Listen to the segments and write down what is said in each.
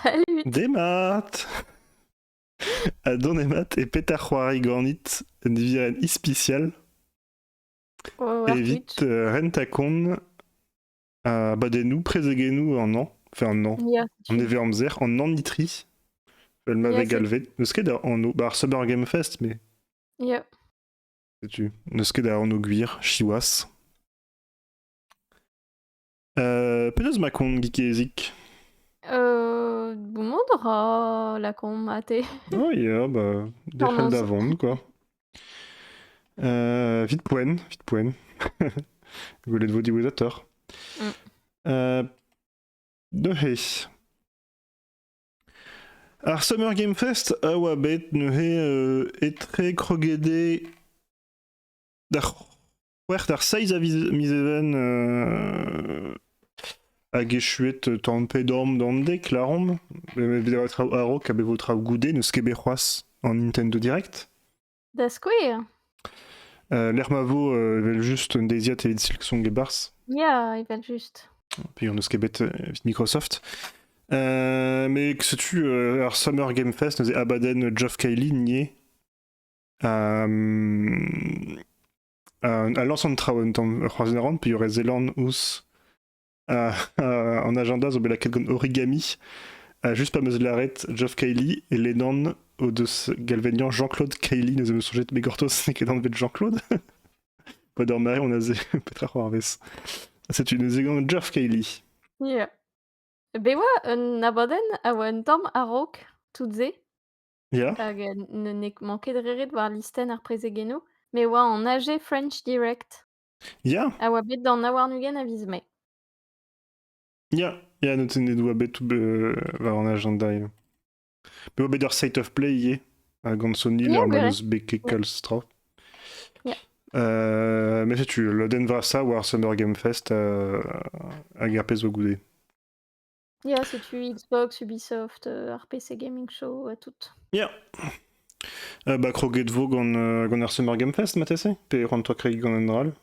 Salut Demat A donemat e pet a c'hoari ganit un nivirenn ispisial Oh, evit Arwitch. euh, ren ta kont à badennoù, prezegennoù an an, enfin an an, Yeah, an tu. ever-amzer, an anitri, elle Yeah, m'avait c'est galvé. N'eus ket da anv, bah, ar Summer Game Fest, mais yeah. setu. N'eus ket da anv gwir, Chiwas. Euh, penaos ma kont Geezik? Euh, bon, on aura la comate. Oh yeah, bah, des frères Tornons. d'avant, quoi. Euh, vite poen, vite poen. Golet vos diwezateurs. Mm. Euh, neuze. Ar Summer Game Fest a oa bet neuze euh, etre krogede d'ar C'hwec'h ar seizh a miz even euh, hag echuet tan pedorm d'an dek, laromp. a-raok a bevo traoù goude, n'eus ket bet c'hoazh en Nintendo Direct. Da skouer euh, Lec'h ma vo, euh, evel juste un deiziad evit Silksong et Bars. Ya, evel juste. Puis on n'eus ket bet Microsoft. mais que sais-tu, ar Summer Game Fest, nous Abaddon, Geoff Keighley, nié. Euh, euh, a lañs an traoù un tamm c'hoarzhin a ran peogwir e zelan ouzh euh, euh, an agenda zo bet lakaet gant origami euh, juste pa 'm eus lâret Geoff Cayley e ledan o deus galvaniañ Jean-Claude Cayley neuze 'm eus soñjet bet gortoz n'eo ket anvet Jean-Claude pas d'or mare on a ze petra c'hoarvez setu ne zegant Geoff Cayley Yeah. Bet oa un abadenn a oa un tamm a-raok, tout-se. Yeah. Hag euh, ne n'ait manqué de rire de voir listenn ar prezegennoù, mais oa en AG French Direct, Yeah. a oa bet d'an awarn-ugent a viz Mai. Yeah. Yeah, note ne doa bet euh, war an agenda ivez. Pe oa bet ur state of play ivez, ha gant Sony, Yeah, l'er gwir eo. mallus beke Yeah. kalz tra. Yeah. Euh, mais setu, lodenn vrasañ war Summer Game Fest euh, hag ar pezh zo goude. Ya, setu Xbox, Ubisoft, euh, RPC Gaming Show, euh, toutes. Yeah. Euh, bah, croquet de veau gant, euh, gant ar Summer Game Fest, ma TC Pe rendre-toi craig gant un ral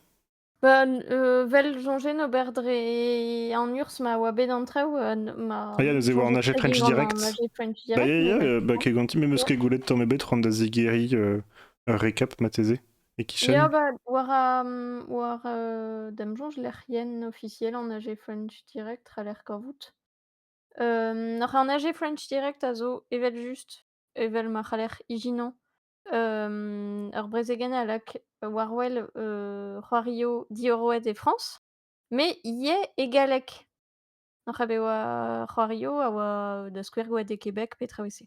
Bah, euh, vel jonger no et en urs ma oa bet an traoù euh, ma Ah, ya, neuze war naje French Direct. Naje French Bah, Direct, ya, ya, euh, bah, quai ganti, me meus ket goulet tamm ebet rendre da zigeri euh, récap, ma TC E-kichen? Ya, bah, war, euh, war euh, da'm soñj lec'hienn officielle en AG French Direct a l'air kavout. Euh, oc'h an AG French Direct a zo evel-just, evel ma c'haller ijinañ, euh, ur brezegenn a lak war-wel euh, c'hoario diorroet e Frañs, mais ivez e galleg. Oc'h a bet oa c'hoario a oa da skouer gwaet e Québec pe traoù e-se.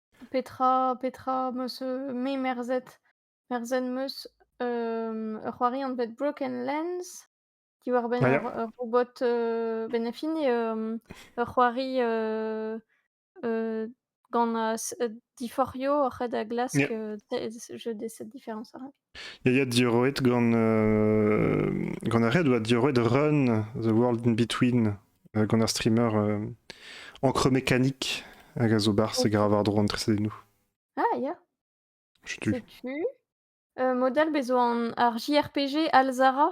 Petra petra 'm eus, heu, me merzet? Merzet 'm eus, hem, ur c'hoari anvet Broken Lens diwar-benn ur ur robot, heu, ben a fin hem, ur c'hoari, heu, heu, gant, heu, s diforc'hio oc'hed a glask, heu, jeu de cette différence-là. yaya diorroet gant euh, gant ar red oa diorroet Run The World in Between euh, gant ar streamer euh, encre mécanique hag a zo bar se gravar dro an tresedennou Ah, ya. Je tue. Setu. Euh, modal bezo an ar JRPG Alzara.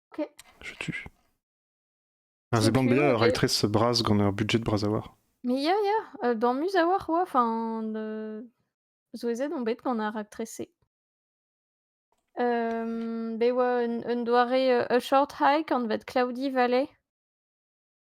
Setu. Un ziban bien, ur raktres bras gant ur budget bras a-walc'h. Mais ya, ya, euh, damus a-walc'h oa, enfin, de... Souezhet on bet gant ar raktres-se. Um, be oa un, un doare euh, a short hike anvet Cloudy Valley.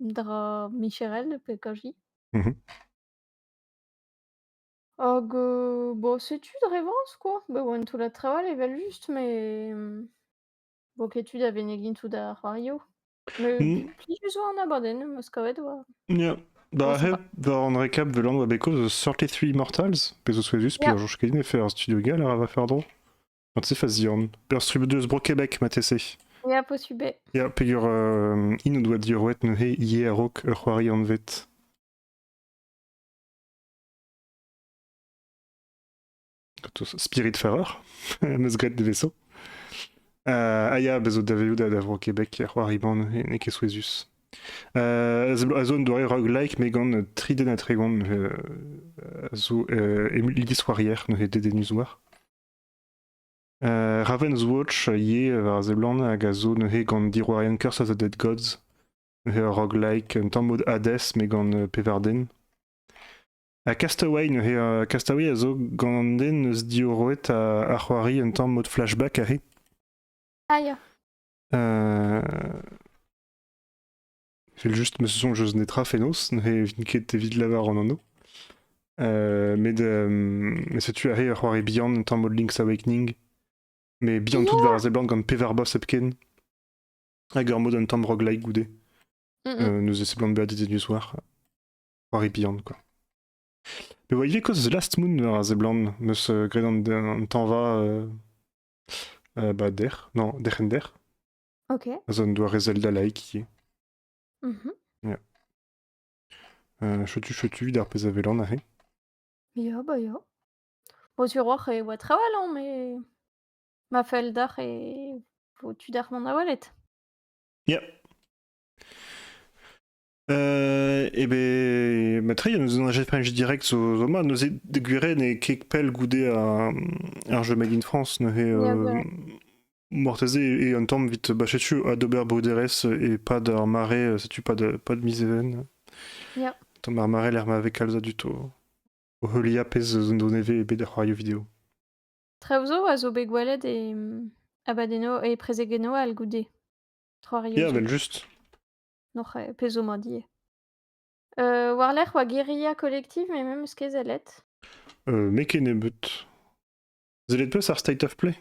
Dra micherel pe kaji? Mmh Hag, heu, bon, c'est une rêvance, quoi. Bah, one to la travel evel-just, mais, mmh, vok etud a venegin tout da c'hoario. Mais Mmh. plijus oa an abadenn, 'm eus kavet oa Yeah. on Da sait pas. heb da an récap de Land Abeco, The 33 Mortals, pe zo souezhus, Yeah. Pierre-Georges Cadiz a fait un studio gars, là, va faire drôle. Quand c'est fazian. Ur strubed eus Bro-Québec, martese. Ya, posubé. Ya, peger euh, in o doa diorroet neuze ivez a-raok ur c'hoari anvet. Spiritfarer, meus graet deveso. Uh, ah ya, bezo daveoù da, da Vro-Québec, c'hoari-ban, n'eo ket souezhus. Uh, a zo un doare roguelike, me gant tri den a tregont uh, a zo uh, emu, lidiz neuze dedennus war. Raven's Watch a yee war a seblant hag a zo neuze gant diorroerien Curse of the Dead Gods, neuze ur roguelike un tamm mod Hades met gant pevar den. Ha Castaway neuze, euh, Castaway a zo gant an den eus diorroet a, a c'hoari un tamm mod flashback aze. Ah ya. Euh, Evel-just, ma soñj eus netra fenoz, ne vin ket evit lavarout an anv. Euh, met euh, setu arri ur c'hoari bihan un tamm o Link's Awakening. Mais bihan tout war a seblant gant pevar boss hepken. Hag ur mod un tamm roguelike goude. Euh, nous e seblant bezañ dizenus war. C'hoari bihan, quoi. Me oa ivez koz Last Moon war a seblant. Meus uh, graet an, an tañva... Uh, uh, ba, der. Non, derc'hen der. Ok. Az un doare Zelda laïk ivez. Mhm. Yeah. Euh, Chotu chotu vit ar pezh a welan aze. Ya, bah ya. Au tiroir e oa très lent, mais ma feuille d'art est au-dessus d'Armand Nawallet. Yeah. Euh, et ben, Matri, nous on a French Direct zo zo ma neuze de gwire ne ket pell goude un un jeu Made in France neuze Ya, euh, voilà. Mortese et un temps vite bachetu à Dober Bruderes et pas d'ar marais setu pas de pas de miseven Ya. Tom ar marais lec'h ma ve kalz a dud o o heuliañ pezh zo nevez e bet er c'hoarioù video. Traozo a zo bet gwelet e Abadeno e prezegeno al goude. Trois Rios. Ya, vel juste. Noc'h eo, pezh zo mat ivez. Euh, war-lerc'h oa guerilla collective, mais memes ket sellet. Euh, N'eo ket nebeut. Sellet peus ar State of Play?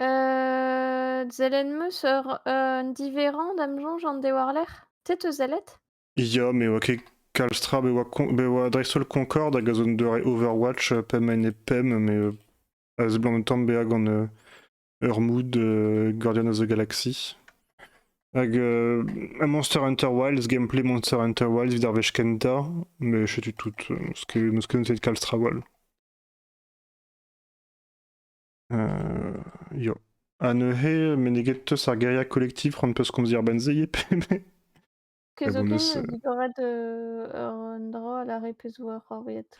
Euh, Zelen meus ur un diverrañ da'm soñj an de war-lerc'h. Te teus sellet? Ya, me oa ket kalz tra. Bet oa, con- bet oa dreist-holl Concorde hag a zo un doare Overwatch euh, pemp ene pemp, mais euh, a seblant un tamm bezañ gant euh, Urmud, euh, Guardian of the Galaxy. Hag euh, Monster Hunter Wilds, gameplay Monster Hunter Wilds vit ar wech kentañ, mais je suis tout euh, ce que me connaît c'est Calstrawall. Euh, yo. Ha neuze, meneget teus ar guerilla collective c'hoant peus komz ar benzei e pe me? Kezokez bonus, euh, digoret euh, un dra a la re peus war ar welet.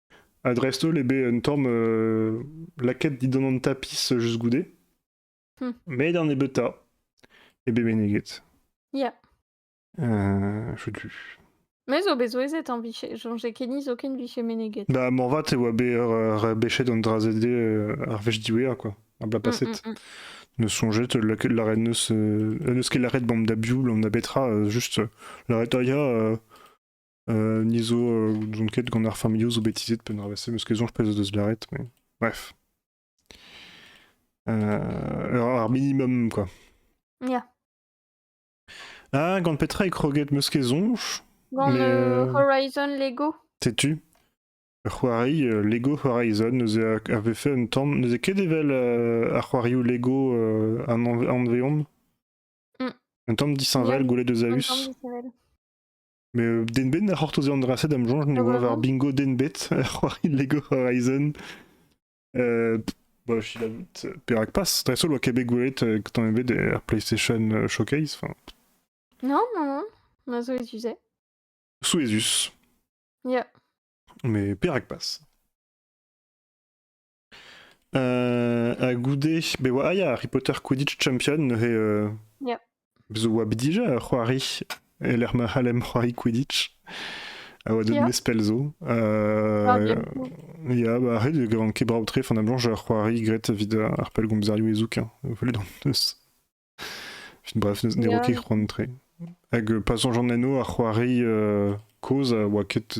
Ha dreist-holl eo bet un tamm lakaet dindan an tapis just goude. Hmm. Met an nebeutañ eo bet meneget. Ya. Euh, Chutu. Mais zo bet souezhet en vicher. Soñjez ket niz aucun vicher meneget. Bah, morvat e oa bet rebechet an drazed euh, ar wech diwezhañ, quoi. Ar bla paset. Mm, mm, mm. Ne soñjet lâret neus ket lâret bam da bioul, on a betra, juste lâret aia Euh, ni zo, euh, n'ont ket gant ar familho zo betizet pe nravese, meus ket zonj pez deus lâret, mais bref. Euh, ar minimum, quoi. Yeah. Ah, gant petra e kroget meus ket zonj Gant Mais, euh, Horizon Lego. T'es-tu Ur c'hoari, euh, Lego Horizon, neuze a- avait fait un temps, neuze ket evel euh, ar c'hoarioù Lego euh, an an- anveon Mm. Un temps 10 Vael goulet de Zeus. Ensemble, Samuel. Mais Den Bet a c'hortoze an dra-se da'm soñj ne oa war bingo Den Bet, c'hoari Lego Horizon. Euh, bah, je sais jamais, Perak Pass, dreist-holl oa Québec Wallet, euh, quand on avait der PlayStation euh, Showcase. Enfin, Non, non, non. On a zo les usait. sous Esus, Yeah. mais Perak Pass. Euh, ha goude, be oa ah, ya, Harry Potter Quidditch Champion neuze euh, Yeah. zo oa bet dija ur c'hoari e lec'h ma c'hallem c'hoari Quidditch a oa deut Ya. mez pell zo. Euh, Ah, bien. ya, bah arrête, e gavan ket brav tre, fin blanche, j'ai c'hoari grêt evit euh, ar pell gompzarioù e zouk, hein. Voilà, d'an deus. Fin bref, ne ne ro Yeah. ket c'hoant tre. Hag euh, pas soñj an enno ar c'hoari euh, kozh a oa ket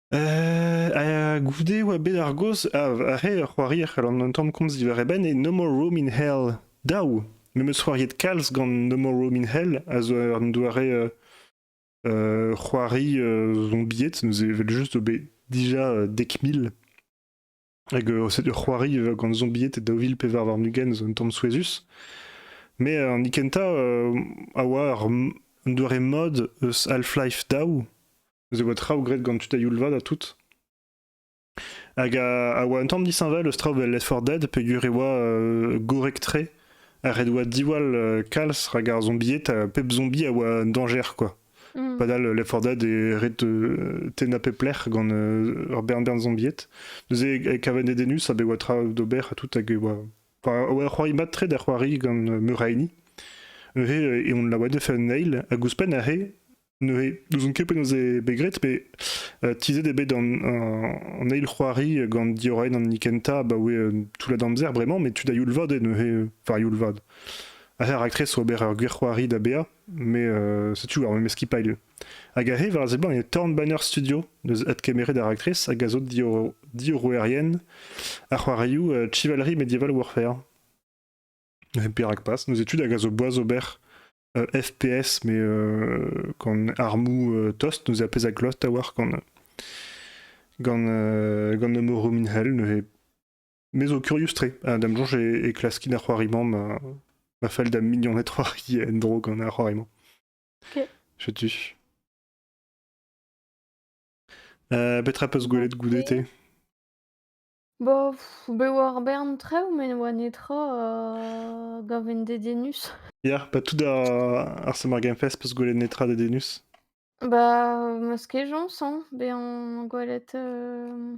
Euh, goude oa bet ar goz a he ur c'hoari a c'hallan un tamm komz diwar e benn e No More Room in Hell daou. Me 'm eus c'hoariet kalz gant No More Room in Hell a zo un doare euh, euh, c'hoari euh, zombiet neuze evel juste zo bet déjà euh, dek mil. Hag euh, setu c'hoari euh, gant zombied daou vil pevar warn-ugent zo un tamm souezhus. Mais euh, an hini kentañ euh, a oa ur un doare mod eus Half-Life Daou. Eus e oa traoù graet gant tud a youl-vat ha tout. Hag a, a oa un tamm disheñvel eus traoù 'vel Left 4 Dead peogwir e oa euh, gorrek-tre. Ha ret oa diwall euh, kalz rak ar zombied, ha pep zombie a oa un dañjer quoi. Mm. Padal, Left 4 Dead e ret euh, tennañ pep lec'h gant euh, ur bern bern zombiet. Neuze, e kaven edenus a be oa tra d'ober ha tout hag e oa... Enfin, c'hoari mat tre da c'hoari gant euh, Muraini. Neuze, e on laouen de faire nail, hag ouzhpenn a re, neuze, n'ouzon ket penaos eo bet graet, mais euh, tizhet eo bet an, eil c'hoari gant Diorain an Nikenta abaoe euh, tout la d'amzer bremañ, mais tu da youl vad eo neuze, euh, enfin youl vad. Ha ar raktres oa bet ur gwir c'hoari da bea, mais euh, c'est toujours mais ce qui pas lieu hag arrive ar seblant e Tornbanner Studio deus adkemeret ar actrice hag a zo dior diorroerien ar c'hoarioù euh, Chivalry Medieval Warfare perak pas nos études hag a zo boaz ober euh, FPS mais euh, quand armou euh, tost nous a pez a klost a war quand gant euh, gant Nomoru Minhel ne Me zo kurius-tre. Euh, Da'm soñj e, e klaskin ar c'hoari-mañ ma, ma fell da mignoned c'hoari en-dro gant ar c'hoari-mañ. Ok. Setu. Euh, petra peus gwelet goude te Bo, pff, be oa ar bern trev, met ne oa netra euh, gaven dediennus. Ya, ba tout ar, ar Summer Game Fest peus gwelet netra da Denus Bah, ma skejañs, hein, bezañ gwelet euh,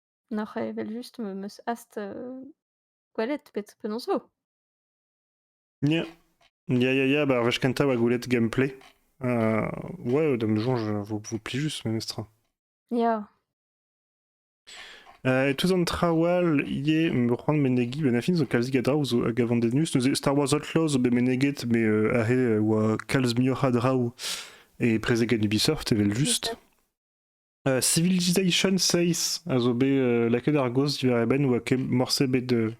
N'oc'h evel-just m eus hast, heu, gwelet penaos penaos 'zo. Ya, ya, ya, ya, bah, ar wech kentañ 'oa gwelet gameplay. Heu, ouais, d'a ma soñj, heu, vous vous plaît juste memestra. Ya. Heu, et tous an traoù all ivez, me c'hoant menegiñ, ben a fin 'zo kalzik a draoù 'zo hag a vandennus. Neuze Star Wars Outlaws zo bet meneget, mais heu, aze e oa kalz muioc'h a draoù, et prezeg en Ubisoft evel-just. Euh, Civilization 6 a zo bet euh, lakaet ar gozh diwar e benn oa ket morse bet euh,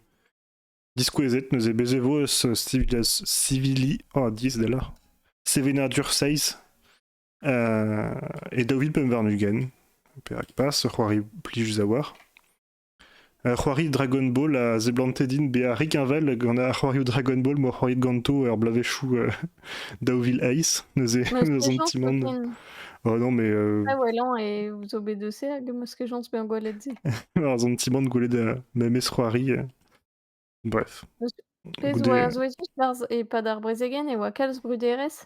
diskouezet neuze bez e vo eus Civilization Civili oh, 10 da loc'h Sevenadur 6 euh, e daou vil pemp warn-ugent perak pas ur c'hoari plijus a oar Ar c'hoarioù Dragon Ball a seblante din bezañ rikheñvel gant ar c'hoarioù Dragon Ball m'oa c'hoariet ganto er bloavezhioù daou vil eizh, neuze eus an ti-man. Oh non, mais euh... Ah ouais, lent, et vous obédecez à ce que j'en bien gwelet se. Ar an ti-man gwelet euh, memes c'hoari. Euh, bref. Goude... Zo er zoezus et pas d'ar brezegen, et oa kalz bruderezh.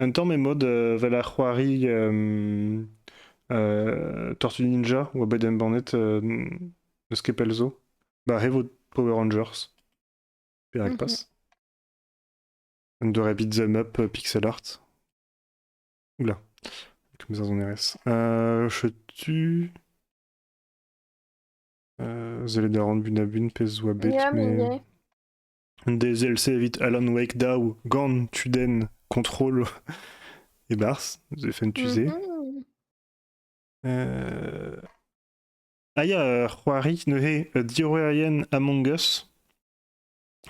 Un tamm emod vel ar c'hoari Tortue Ninja oa bet embannet n'eus ket pell zo. Ba re vo Power Rangers, perak pas. Un doare beat'em up pixel art. Oula, comme ça on RS. Euh, tu... Euh, Zelda Run Bunabun, pez oa bet, mais... Dezel-se evit Alan Wake daou gant tudenn Control e-barzh, The Fentusé. Mhm. Euh, Ah ya, euh, c'hoari neuze euh, diorrerien Among Us.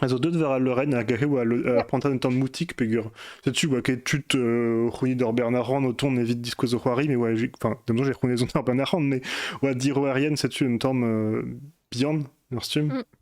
A zo deut war al leurenn hag he oa le- ar prantad un tamm moutik peger. Setu oa ket tud euh, c'hounit d'ur Bernard Rand o tont evit diskouez o c'hoari, mais oa, j'ai- enfin, d'emzo j'ai c'hounit zon ar Bernard Rand, mais oa diorrerien setu un tamm euh, bihan, ur stumm. Mm.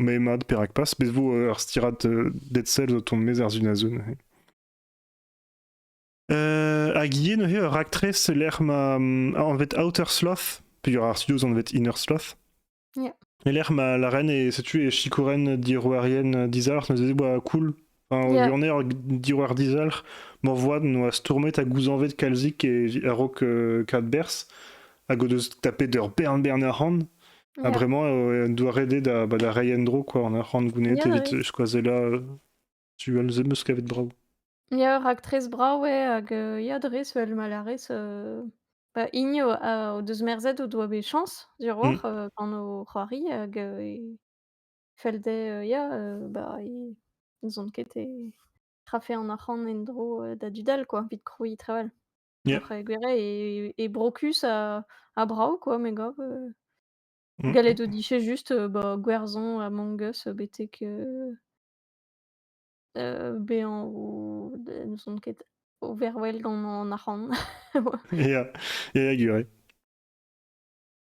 Mais mad, perak pas Bet vo ur stirad euh, Dead Cells o tont mes ar Zunazun euh, Hag ivez neuze ur raktres lec'h ma mm, anvet Outer Sloth Peger ar studio anvet Inner Sloth yeah. Et lec'h ma la reine est située Shikuren diroarien dizalc'h neuze boa cool Enfin, Yeah. Lionel, diwar dizalc'h, morvoad noa stourmet ha gouzañvet kalzik e- a-raok euh, Kadberzh, hag o deus tapet ur bern bern arc'hant, ha Yeah. bremañ euh, en doa ret eo da, bah, da reiñ en-dro quoi, an arc'hant gounet Yeah, evit ouais. skoazellañ euh, tu all em eus kavet brav. Ya, raktres brav eo hag euh, ya dres vel ma larez euh, bah, hini o, a- o deus merzet o doa bet chañs Mmh. diorroch euh, gant o c'hoari hag euh, e- Fell dezhe, heu, ya, heu, bah, i n'ouzont ket e trafañ an arc'hant en-dro, heu, da du dall quoi, evit krouiñ Treval. Yeah. Après gwir eo, e brocus a a brav quoi, mes gars, heu, Mmh galette mh. au guichet juste, heu, bah, gwerzon, Among Us, betek, heu heu, béant ou elles ne sont ket overwhelmed en en arc'hant. Ouais. Yeah. Yeah, I agree.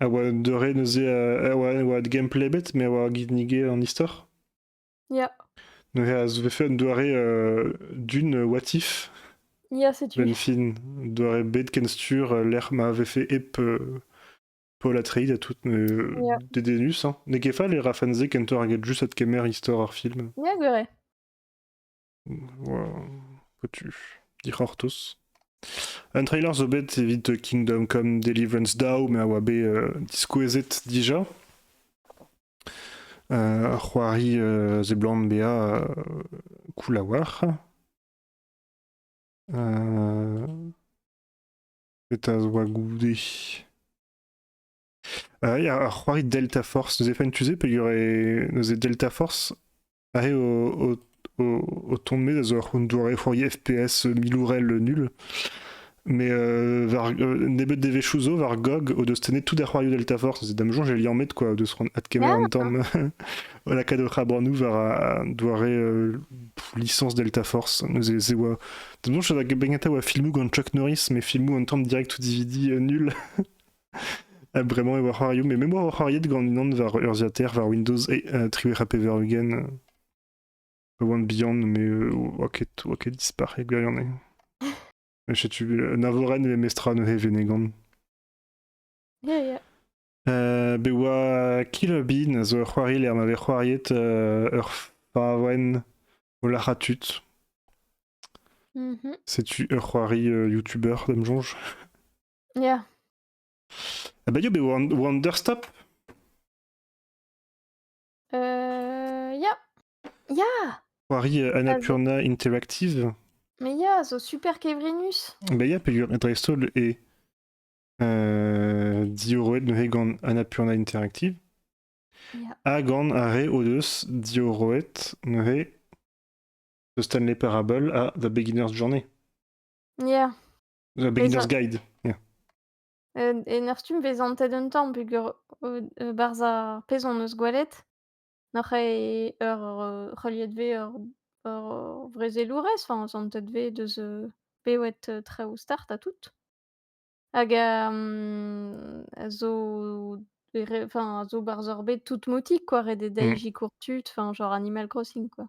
a oa un deure neuze a oa, a oa gameplay bet mais a oa ginnigé en istor ya neuze a se fait un doare euh, d'une what if ya setu ben fin doare bet ken sur euh, lec'h ma avait fait ep euh, Paul Atreides à toutes euh, yeah. dédenus hein. Ne ket fall e rafanze kentoc'h eget just adkemer istor ar film. Ya, gwere. Dic'hortoz. Un trailer zo bet evit Kingdom Come Deliverance Dow, me a oa bet euh, diskouezet dija. Euh, ar c'hoari euh, zeblant bea koulawar. Eta zo goude. Il y a un c'hoari Delta Force. Nous avons tu sais, il y aurait Delta Force Pare o, o, tomber zo ur doare fourier FPS milourel nul. Mais euh, war, euh, nebeut devezhioù zo war GOG o deus tennet tout da c'hoarioù Delta Force. C'est dam sonj e liammet quoi, de se rendre adkemer en tam la kadocha branou war a doare euh, licence Delta Force. Nous e c'est oa dam sonj va begnata oa filmou gant Chuck Norris mais filmou en tam direct ou DVD euh, nul. Bremañ e oa c'hoarioù, mais me oa c'hoariet gant unan war urzhiataer war Windows e uh, triwec'h ha pevar ugent. Pa oan bihan, mais euh, oa ket, oa ket dispac'het gwirion Setu Navoren ve mestra neuze Venegan. Yeah, yeah. Uh, be oa Killer Bean a zo ur c'hoarier ma vez c'hoariet uh, ur favenn o lac'ha tud. Mm -hmm. Setu ur c'hoari uh, YouTuber, da'm soñj. Ya. Ah bah yo, bet Wonderstop Euh, ya. Ya. Poirier euh, Annapurna Interactive. Mais ya, zo super kevrinus. Bah ya, peger dreist-holl e euh, diorroet neuze gant Annapurna Interactive. Ya. Ha gant ar re o deus diorroet neuze The Stanley Parable ha The Beginner's Journey. Ya. The Beginner's Guide. Yeah. En, en ar stumm bezañ antet un tamm peger euh, barzh ar pezh hon eus gwelet nac'h eo ur euh, c'heuliet vez ur ur vrezelourez, enfin, santet vez deus euh, bewet euh, traoù start ha tout. Hag euh, a zo enfin, a zo barzh ur bed tout motik quoi, ret eo da mm. courtu, enfin, genre Animal Crossing quoi.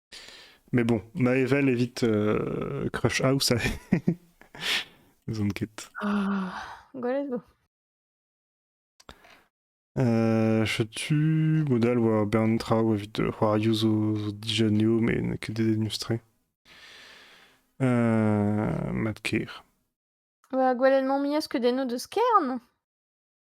Mais bon, ma evel évite euh, Crush House. Zon ket. Ah, gwell zo. Euh, setu modal war bern traoù evit euh, c'hoarioù zo, zo dijanio met n'eo ket dénustre. Euh, mat ker. Bah, gwellenn-mañ mi eus que den o deus kern.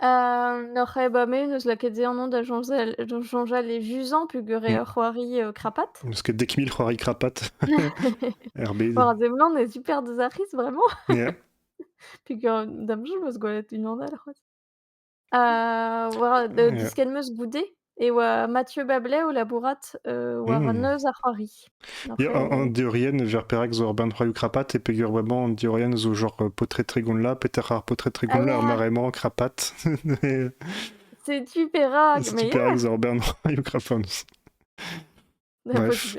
Euh, N'oc'h ket ba me eus lakaet se an da soñjal, soñjal e Vuzan peogwir eo ur c'hoari euh, crapatte. Parce que dès que 1000 c'hoiries crapates, RB. War Zemlan est super désactrice vraiment. Yeah. Puis que dam je me se goalette une en a, la c'hoaz. Euh, voilà, de, de Yeah. ce qu'elle me se goûter. e oa Mathieu Bablet o labourat, heu, war Mmh. neuz ar c'hoari. Ya, Après, en en on diorien ver perak zo ur band c'hoarioù krapat e peger-vraiment en diorien zo genre, heu, Potret Trigonla, peter ar Potret Ah Trigonla, ar ouais! mare-mañ, krapat. C'est Tuperak, C'est mais Tuperak yeah! zo ur band c'hoarioù krapat. Un peu Ouais. Tupe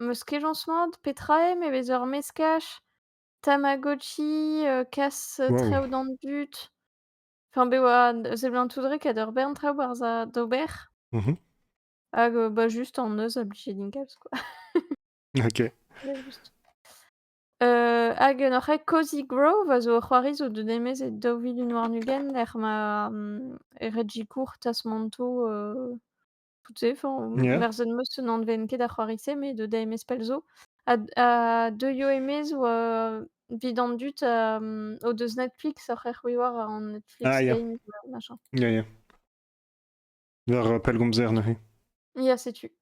'Meus kejañs mat. Petra eo? Me 'vez ur meskaj, tamagotchi, heu, kas Waouh! traoù d'an dud. Enfin bev a seblantout re ket ur bern traoù 'barzh a d'ober. Mmh mh. Hag heu, bah, juste en neuz obligé din kalz quoi. OK. Voilà juste. Heu, hag un oc'h aet Cozy Grove a zo ur c'hoari zo deut e-maez e daou vilin warn-ugent lec'h ma, mmh, Reggie Courte a 'z manto, heu Tout se, enfin, on Yeah. personne meus se n'anvent ket a c'hoari-se, mais de Dame Espelzo. A d a deuio e-maez ou heu, 'vid an dud, hem, o deus Netflix oc'h erc'hwi war an Netflix Ah yeah. Game ou machin. Yeah, yeah. War, heu, pellgomzer neuze. Ya, setu.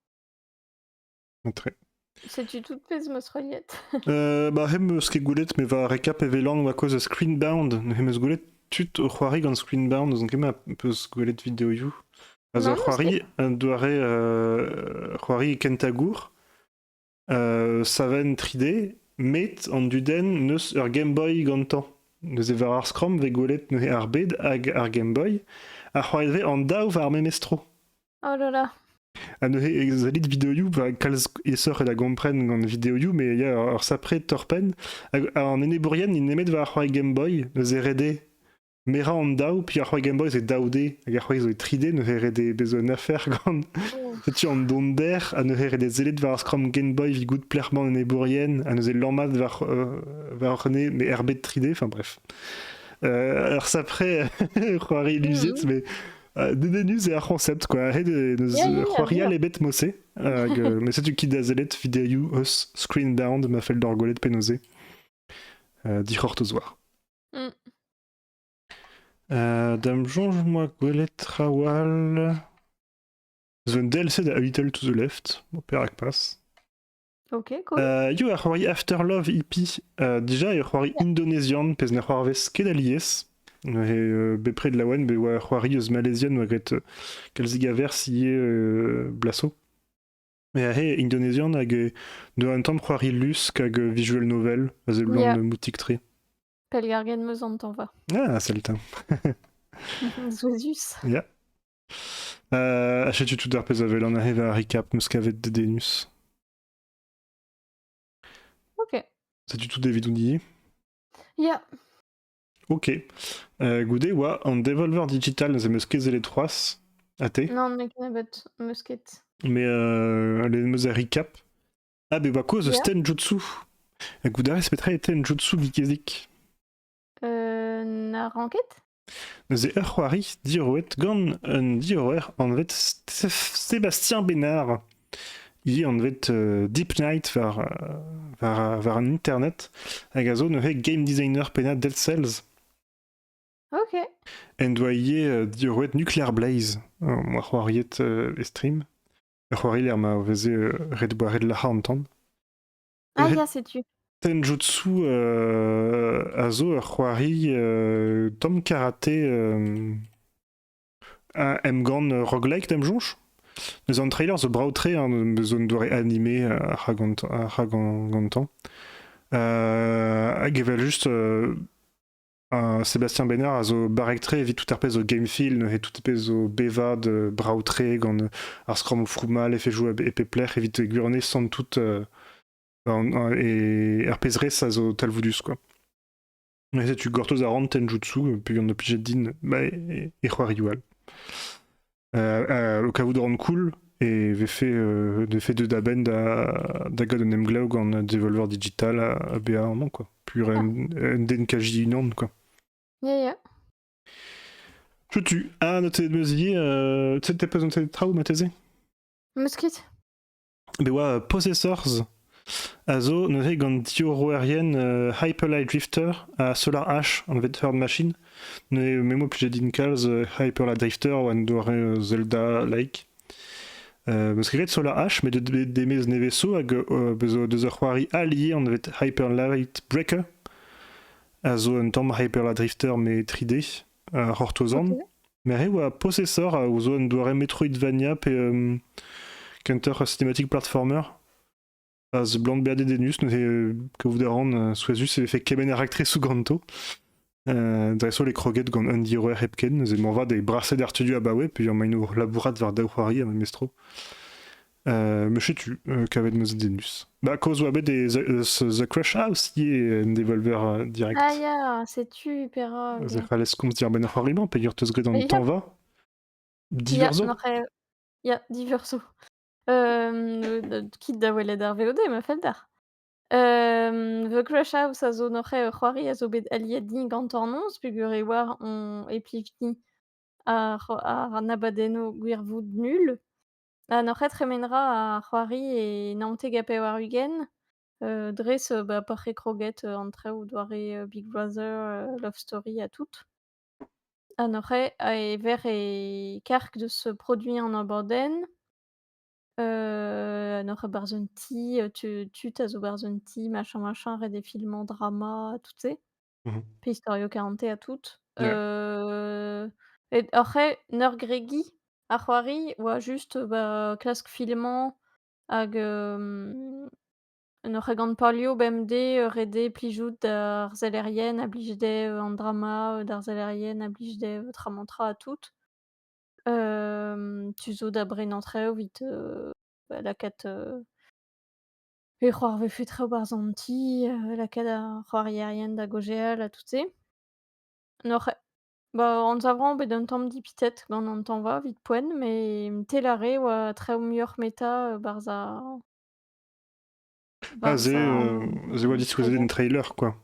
Entre. Setu tout pezh m'eus reuliet. Euh, bah, hem eus ket gwelet, me va rekap e velan va kouezh a Screenbound. Hem eus gwelet tud o c'hoari gant Screenbound, n'ouzon ket ma peus gwelet videoioù. A zo Non, ur n'eus c'hoari, ket. un doare euh, c'hoari kentañ gour, euh, savenn 3D, met an dudenn n'eus ur Game Boy gantañ. Neuze war ar Scrum vez gwelet neuze ar bed hag ar Game Boy, a c'hoarive an daou war memes tro. Oh là là. Ha neuze e zalit videoioù pa kalz aesoc'h eo da gompren gant videoioù, mais ya, ur sapre torr-penn. Hag an enebourien, ils nemet war ar c'hoari Game Boy, neuze redé. Merañ an daou, puis ar c'hoari Game Boy c'est daou D, hag ar c'hoari zo e tri D, neuze redé bez un afer gant setu an donder, ha neuze redé sellet war ar Scrum Game Boy vigout plec'hman an enebourien, ha neuze lammat war, euh, war ne, mais RB 3D, enfin bref. Euh, alors ça après, c'hoari Luziet, Mhm. mais Dedennus eo ar c'honsept, quoi. Ret eo c'hoarial ebet mose. Hag, mais setu kit da sellet videoioù eus Screen Down ma fell d'hor gwelet penaos eo. Uh, dic'hortoz war. Mm. Uh, dam soñj-moi gwelet trawal... Eus un DLC da Little to the Left, perak pas. Ok, cool. Euh, eo ar c'hoari Afterlove hippie. Euh, déjà, eo c'hoari indonésian, pezh ne c'hoarvez ket alies. Neuze, euh, bepred laouen, be oa c'hoari eus Malaysian oa graet euh, kalzik a verz ivez euh, blaso. Mais he, Indonésian hag e de un tamm c'hoari lusk hag euh, visual novel, a zeblant Yeah. euh, moutik tre. Pelgargen meus an tañva. Ah, salut. hein. Zouezus. Yeah. Euh, Setu tout ar pezh a welan aze war recap, meus kavet Dedenus. Ok. Setu tout evidout die Yeah. Ok. Euh, goude oa an Devolver Digital, neuze meus ket zellet c'hoazh, a te. Non, ne ken bet, meus ket. Mais euh, le meus a recap. Ah, be oa kozh eus Yeah. Tenjutsu. Ha goude all, c'est petra e Tenjutsu Vikezik Euh, na ranket? Neuze ur c'hoari diroet gant un diroer anvet Sébastien Bénard. He anvet euh, Deep Night war, euh, war, war an internet hag a zo neuze game designer pennad Dead Cells. Ok. En doa ivez euh, diroet Nuclear Blaze, ar c'hoariet e stream. Ur c'hoari lec'h ma veze ret boire de la an Ah, ya, setu. Tenjutsu euh, a zo ur c'hoari euh, tom karaté euh, un emgann roguelike d'em soñj. Neuze an trailer zo brav-tre, hein, zo un doare animé euh, rag gantañ- rag gantañ. Euh, hag evel juste euh, Sébastien Bénard a zo barrek-tre evit tout ar pezh zo game-feel, neuze tout ar pezh zo bevad, brav-tre, gant ar skramm o froummal, efe joa e pep lec'h, evit gwirionez sant tout e ar pezh res a zo talvoudus quoi. Mais setu gortoz a ran tenjutsu, peogwir on obliget din, bah, e, e c'hoarioù all. kavout a ran cool e vefe vefe deuet a-benn da da gad un emglev gant Devolver Digital a, BA amañ quoi pur un, un den kaji unan quoi yeah yeah je tue ah noté de me oublier euh, t'es présenté des travaux Mathézé Mosquite e oa Possessors a zo neuze gant diorroerien euh, Hyperlight Drifter ha Solar Ash, anvet Herd Machine. Neuze, me mo plije din kalz euh, Hyperlight Drifter oa un doare euh, Zelda-like. Euh, be skrivet Solar Ash, met de demez neveso hag euh, bezo deus ur c'hoari alier anvet Hyperlight Breaker, a zo un tamm Hyperlight Drifter mais 3D, uh, c'hortozan. Okay. Merc'h e oa posesor a zo un doare Metroidvania pe euh, Counter Cinematic Platformer. A zeblant bezañ dedennus, neuze euh, kaout a ran euh, souezhus e vefe kemenn ar aktrisou ganto. Euh, dreso les croquettes gant Andy Roer hepken, neuze moarvat e braset ar studio abaoe, puis maino labourat war daou c'hoari ha memestro. Euh, setu, euh, kavet ma zenus. Bah, cause oa bet des, The Crush House yé en devolver euh, direct. Ah ya, c'est tu, Perra. Ok. Ça fallait qu'on se dire, ben horrible, peyer te grit dans le temps va. Diverso. Il y a Diverso. Euh, quitte d'avoir dar VOD, ma felder. Euh, The Crush House a zo noc'he ur c'hoari a zo bet aliet din gantornoz, pugur e war on e plivti ar, ar abadenno gwirvoud nul. Ha n'oc'h ket tremen 'ra a c'hoari e naontek ha pevar-ugent, heu, dres, heu, bah, pa c'hre kroget, heu, an traoù doare, heu, Big Brother, heu, Love Story ha tout. Ha n'oc'h ket e ver e karg deus ce produit en abadenn, heu, n'oc'h ket 'barzh un ti, heu, tu tud a zo 'barzh un ti, machin, machin, ret des films en drama, tout se. Mmh mh. Peistorio Carante ha tout, Ouais. heu et après Nörgrägi a c'hoari ou a juste, bah, klask filmañ hag, hem, ne regant palio bemdez, heu, rede plijout d'ar zellerien a blij dezhe, heu, an drama, heu, d'ar zellerien a blij dezhe, heu, tramantra ha tout. Hem, tu zo da brenañ très vite, heu, bah, la quête, heu Pe c'hoarvezfe traoù 'barzh an ti, heu, lakaat ar c'hoarierien da gaozeal ha tout se. N'oc'h bah, anzav 'rañ bet un tamm dipitet gant an tañva 'vit poent, mais tel ar re a oa traoù muioc'h 'meta, heu, 'barzh ar Ah barzh c'est, ar heu, c'est what it was in trailer quoi.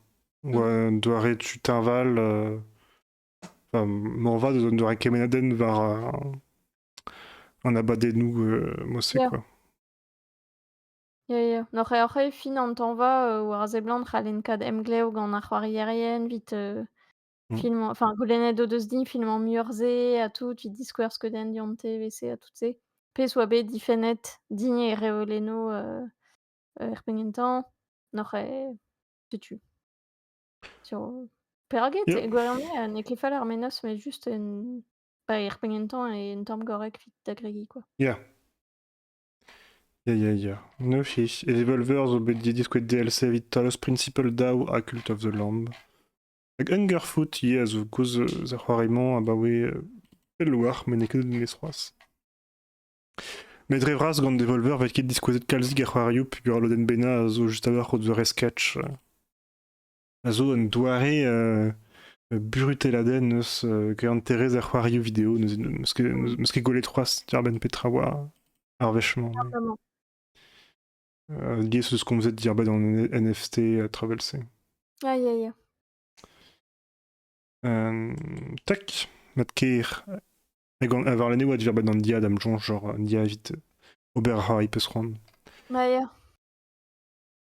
Ou, Mmh. heu, doare tu t'invales, heu, enfin m'en va de doare Kemenaden vers, heu, un abat des Nougs, heu, Mossé Yeah. quoi. Ya, ya. N'oc'h oc'h eo fin an tañva euh, war a seblant c'hallen kaout emglev gant ar c'hoarierien evit euh, Mmh. filmañ, enfin goulennet o deus din filmañ muioc'h-se ha tout, evit diskouer skeudenn dionte evese ha tout-se. Pezh oa bet difennet dign e reolenno euh, er pengen-tañ. N'oc'h eo setu. Sur peuraget Yep. e gwirionez euh, n'eo ket fall ar menoz, mais juste un bah, er pengen-tañ eo un tamm gorrek 'vit da gregiñ, quoi. Yeah. Ya, ya, ya. Neufis. Et les Evolvers zo bet diskouez DLC evit Talos Principle Daw ha Cult of the Lamb. Hag Hungerfoot, yeah, zo gozh eus ar c'hoari-mañ abaoe euh, pell war, met n'eo ket deus c'hoazh. Met dre vras gant Devolver vet ket diskouezet kalzik ar c'hoarioù peogwir lodenn bennañ a zo just a-walc'h o doare sketch. a zo un doare buruteladenn eus greanterezh ar c'hoarioù video n'eus ket gwelet c'hoazh diarbenn petra oa ar wechement. Diaes eus komzet diarbenn an NFT a travel-se. Ah, ya, ya. tak, mat ker. Hag war l'année oa diarbenn an dia d'am joñs, genre an dia evit ober a ra i peus c'hoant. Ah, ya.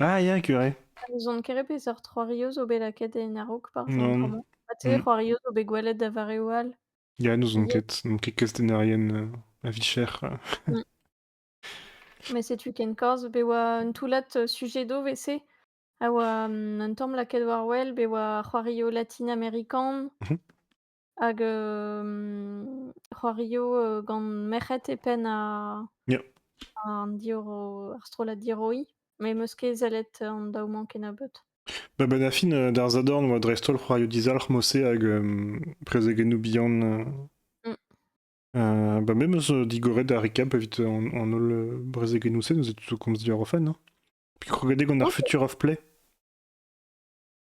Ah, ya, curé. Ha n'ouzon ket re peseurt c'hoario zo bet lakaet en a-raok parfois, Non. vraiment. Ha tu sais, Mmh. c'hoario zo bet gwelet da vareoù all. Ya, n'ouzon Hier. ket. N'on ket kastenarien euh, à Vichères. Mmh. Mais setu ken kaoz be oa un toullad euh, sujet d'o vese a oa hum, un tamm lakaet war wel be oa ar c'hoario latine-américain. Mmh Hag euh, c'hoario euh, gant merc'hed e penn a- Ya. an diro- ar strollad Diroi. Mais 'm eus ket sellet an daou-mañ kennebeut. Ba ba da fin, euh, d'ar zadorn 'oa dreist-holl c'hoarioù dizalc'h Mosse hag euh, prezegennoù bihan. euh. Mm. Euh, bah me 'm eus euh, digoret da recap evit euh, an, an holl euh, brezegennoù-se, nous êtes tous o komz du Europhone, hein. Puis crogadeg on ar Ok. Future of Play.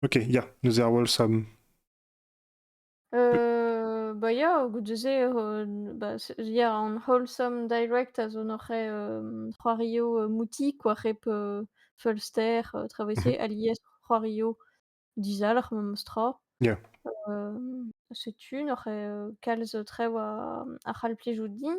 Ok, ya, neuze ar Wolves a... Euh, bah ya, goude-se, euh, bah, c'est- ya, an wholesome direct a zo noc'h euh, c'hoario euh, mouti, quoi, rep euh, Fulster, euh, traversé, alies c'hoario dizalc'h memes tra. Yeah. Euh, setu, noc'h euh, kalz trev a, a c'hall plijout din.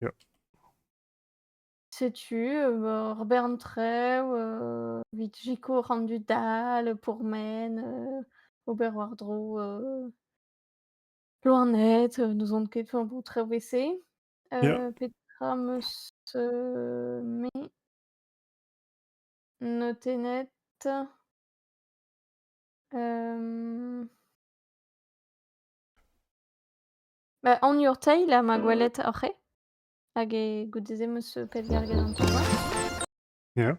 ya. Setu, heu, ur bern traoù, heu, 'vit sikour an dud all, pourmen, heu, ober war-dro, heu, loened, heu, n'ouzon ket, enfin bon, traoù ese. Yeah. Heu, petra 'm eus, heu, me noté net? Hem, Ba anviour Teil eo ma gwelet oc'h-ê hag e goude-se 'm eus pellgarget an tournois. Ya.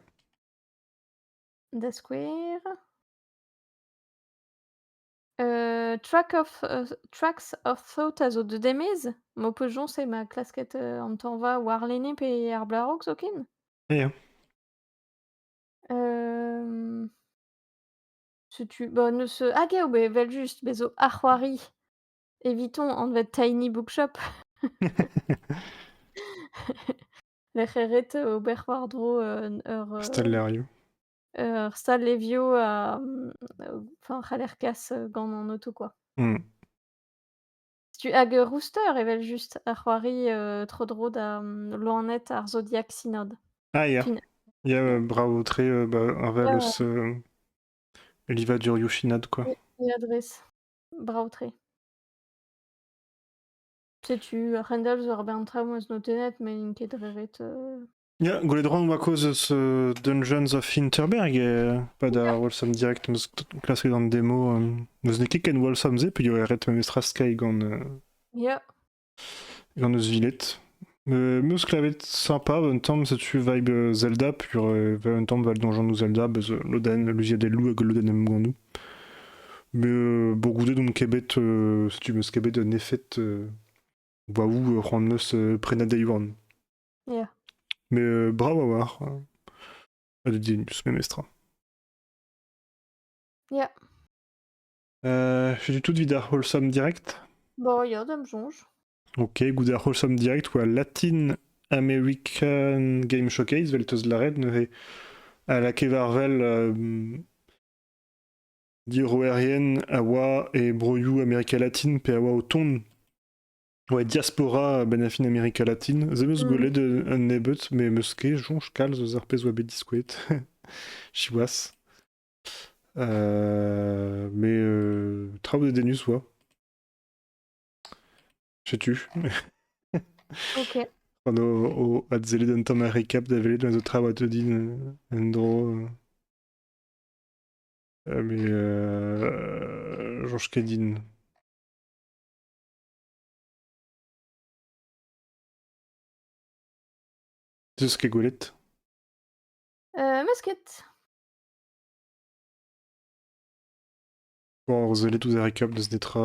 Da skouer, heu, Track of heu, Tracks of Thought a zo deut e-maez, m'ho peus joñs eo ma klasket heu, an tañva warlene pe ar blaraok zoken. Ya. Hem, setu, bon, neus, ah, geo, beh, evel-just, bez' zo ar c'hoari. Evitons anvet Tiny Bookshop. Lec'h eret ober war-dro euh, ur, Stal euh, Lerio. ur stal levio a, mm, enfin, c'haller kas euh, gant an auto quoi. Mm. Tu hag euh, Rooster evel-just a c'hoari euh, tro dro da mm, loened ar Zodiac Synod. Ah, ya. Fin- Ya, euh, bravo, très euh, bah, Ouais, ouais, Arvalus, euh, Livaduriushinad, quoi. et adresse. Brav-tre. Setu a-hend-all zo ur bern traoù 'm eus notennet met n'int ket re ret. Ya, gwelet 'ran ma kozh eus euh, Dungeons of Winterberg e pad ar Walsum Direct 'm eus klasket an demo. euh, n'eus ket ken Walsum-se peogwir e ret memestra skeiñ gant euh, Ya. Gant eus Viled. Me meus klevet sympa un tamm setu vibe euh, Zelda pur euh, va un tamm val donjandoù Zelda beus euh, lodenn luziadelloù hag lodenn emgannoù. Me euh, bo goude d'on ket bet euh, setu meus ket bet un efed euh, waou euh, c'hoant meus euh, prenañ deiwan. Yeah. Mais euh, bravo a war euh, ha de dinus memestra. Yeah. Setu tout evit ar wholesome direct. Bon, ya, da'm soñj. Ok, goude ar wholesome direct, oa Latin American Game Showcase, vel teus lâret, neuze a lakae war-wel euh, diorroerien a oa e broioù Amerika Latine pe a oa o tont ouais, diaspora benafin Amerika Latine. Ze meus gwelet un nebeut, me meus ket soñj kalz eus ar pezh oa bet diskouet, siwazh. Euh, mais euh, train de Dénus, ouais. Sais-tu? Ok. Quando o atzeli denton recap da welet ma'z tra bat din euh, en-dro. euh, euh, mais euh, Georges Kedin. Deus ket gwelet? Euh, masket. Bon, sellet ouzh Erika n'eus netra...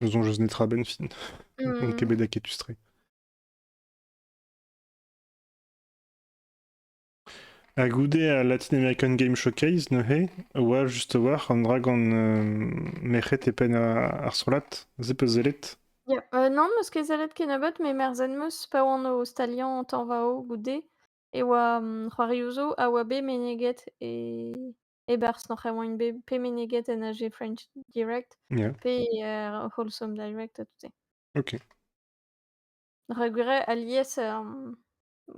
ne soñj eus netra a-benn fin. N'on ket bet aketus-tre. Ha goude al Latin American Game Showcase, neuze, a oa just a-walc'h an dra gant euh, merc'hed e penn ar strollad. Se peus sellet? Yeah. Euh, non, meus ket sellet kennebeut, me merzh en meus pa oan o staliañ tañva-o goude. e oa, mmh, c'hoarioù zo a oa bet meneget e e-barzh nac'h e oant bet pe meneget en AG French Direct Yeah. pe er Wholesome Direct ha tout se. OK. Rak gwir eo alies, hem,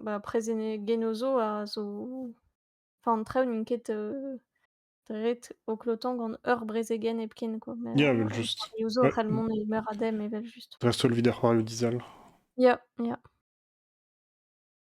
bah, prezenegennoù zo a zo enfin an traoù n'int ket, heu, dret au cloton gant ur brezegenn hepken quoi, mais Yeah, heu, vel les juste c'hoarioù zo ouais, après le monde est meurt à dem evel juste. reste solvi da c'hoarioù dizal. Yeah, yeah.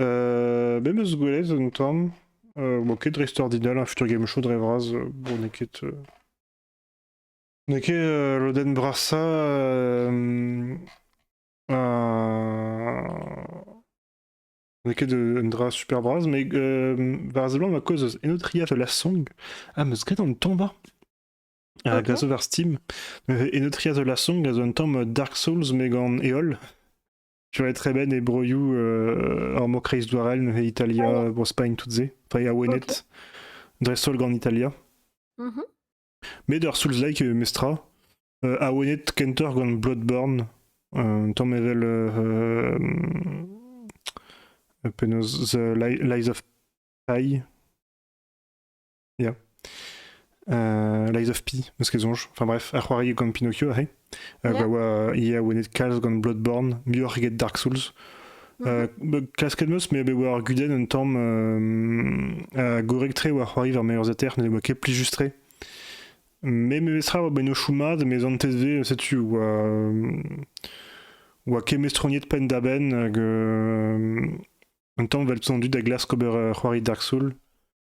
Euh, me meus gwelet un tamm. Euh, bon, ket dreist-ordinal, un futur game show dre vras. euh, bon, n'eo ket... euh, N'eo ket euh, lodenn brasa euh, un... N'eo ket euh, un dra super bras, mais euh, var seblant ma cause eus Enotria de la Song. Ah, meus graet an ton war. Ah Euh, grâce bon? over Steam. Euh, Enotria de la Song a zo un tamm Dark Souls, mais gant Eol. Tu vois, très bien, et broioù euh, ar mor kreizdouarel, Italia, ah Bro-Spagn, toutes ces. Enfin, il y a Wennet, Dressol en Italia. Mm-hmm. Mais d'ar Sulzlike e mestra, euh, a Wennet kenter gant Bloodborne, un tamm evel euh, penaos The Lies of Pi, Yeah. Euh, Lies of P, eus ke soñj. Enfin bref, ar c'hoari gant Pinocchio aze. Euh, Yeah. Pa oa euh, ia oenet kalz gant Bloodborne, muioc'h eget Dark Souls. Euh, ba- klasket meus, me be oa ar gudenn un tamm euh, euh, gorek-tre oa c'hoari war meilleurs ater, ne oa ket plis just-tre. Me memestra oa bennochou mat, mes an TSV, setu, oa, euh, oa ket mestroniet penn-da-benn hag euh, un tamm vel tondu da glask ober euh, c'hoari Dark Souls.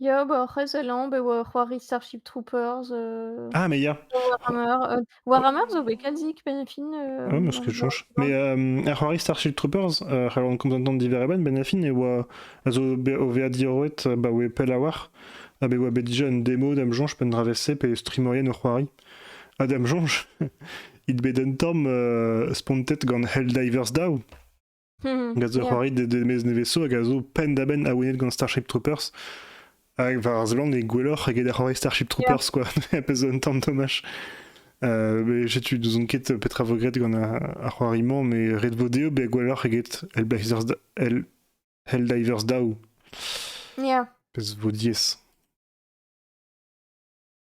Ya, bah, après Zélande, beh, ouais, c'hoari Starship Troopers, heu, Ah mais yeah! Warhammer, heu, Warhammer the Wekazix, Benefin, Ouais, heu, moi ce que je Warhammer, cherche. je Mais crois. hem, à c'hoari Starship Troopers, heu, c'halon komz entan diwere a-benn, Benefin e oa a zo bet o veza diorroet ba oe pell a-walc'h, ha bet oa bet dija un demo d'am soñj penn dra vez-se pe streamerien o c'hoari. Ha d'am soñj, it bet un tamm, heu, spontet gant Helldivers daou. Hag a zo c'hoari de, de mez neveso hag a zo penn-da-benn awenet gant Starship Troopers. Hag war ar zeland e gwelloc'h eget ar c'hoari Starship Troopers, quoi. a pez un tamm tomaj. Euh, mais je tu nous enquête petra regrette gant ar c'hoariman, mais Red Vodeo be gwelloc'h eget Hellbivers, Hell, Helldivers Daw. Yeah. Pez vo dies.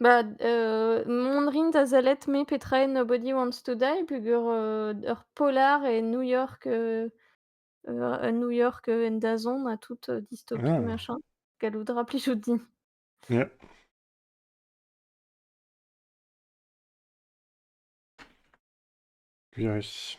Bah, d heu, mont rin da sellet me petra eo Nobody Wants to Die peogwir, heu, ur polar e New York, heu, heu, à New York, heu, en dazont a toute, heu, dystopie Ah. machin. Gallout a ra plijout din. Ja. Virus.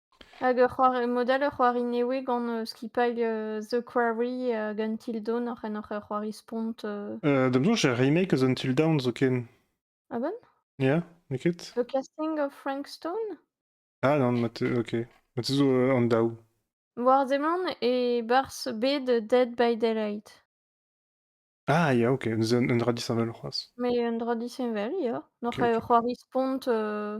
Hag ur c'hoari mod-all, ur c'hoari nevez gant skipailh The Quarry hag Until Dawn oc'h en oc'h c'hoari spont. Euh, da 'm soñj er remake eus Until Dawn zoken. Ah bon? Ya, n'eo ket? The Casting of Frank Stone? Ah non, ma te ok. Ma te zo euh, an daou. War-zeman e barzh bed Dead by Daylight. Ah ya, ok. Neuze un un dra disheñvel c'hoazh. Mais un dra disheñvel, ya. Ok, N'oc'h eo ok. c'hoari spont euh,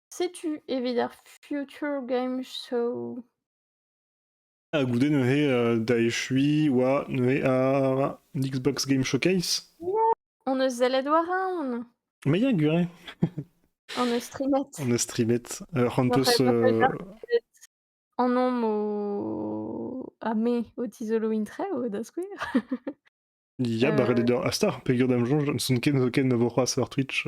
Setu evit ar Future Game Show. Ha goude neuze euh, da echuiñ oa neuze ar Xbox Game Showcase. On eus zellet war un. Mais il y a guré. On eus streamet. On eus streamet. Euh, Rantos euh, En homme au... à mai au tisolo intre au da skouer. Ya, barret eder astar, peger dam jonj, n'son ken zoken na vo c'hoaz war Twitch.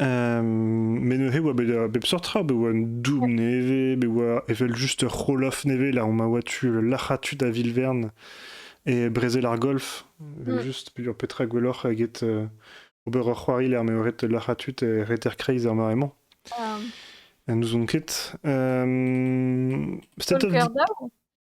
Met neuze oa bet a bep seurt tra, bet oa un doub nevez, bet oa evel juste ur c'holoff nevez, là on m'a oa tu larc'hatu da Vilvern et brezel ar golf, mm. juste pe petra gwelloc'h eget ober ur c'hoari lec'h m'eo ret larc'hatu e reter kreiz ar mare-mañ. Ah. Nous on ket. State of...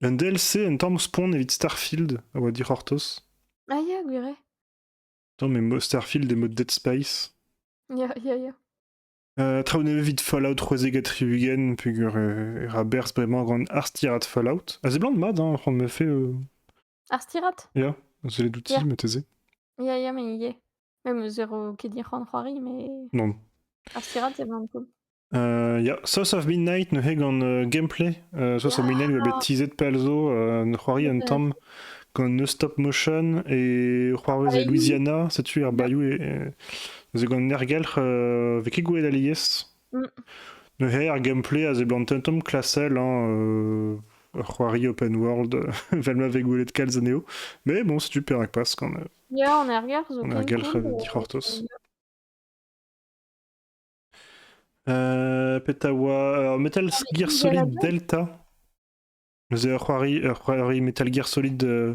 Un DLC un tamm spont evit Starfield a oa dic'hortoz. Ah ya, gwir eo. Attends, mais Starfield est mode Dead Space. Ya, ya, ya. Euh, traoù nevez evit Fallout 3Z Tribugen, pugur euh, Raber, c'est vraiment un grand Arstirat Fallout. Ah, c'est blanc de mad, hein, on me fait... Euh... Arstirat Yeah, c'est les doutis, mais taisez. Ya, ya, mais ivez. Même zéro ket dic'hoant c'hoari, mais Non. ar stirad, c'est vraiment cool. Euh, ya, Source of Midnight neuze gant euh, gameplay. Euh, Source of Midnight va bet teaset pell zo, euh, c'hoari un Ouais. tamm gant No Stop Motion et c'hoarvez e Bayou. Louisiana, setu ar Bayou e, e- zo gant nergelc'h euh, vez ket gwelet alies. Neuze ar gameplay a seblant un tamm klasel, hein, euh, ur c'hoari open world, vel ma vez gwelet kalz anezho. Mais bon, c'est super acpas quand même. Ya, on ergar zo On ken ergal cool. euh, dic'hortoz. Euh, Petawa, euh, Metal Ah, mais Gear ils veulent Solid bien. Delta. C'est ur c'hoari, ur c'hoari Metal Gear Solid euh,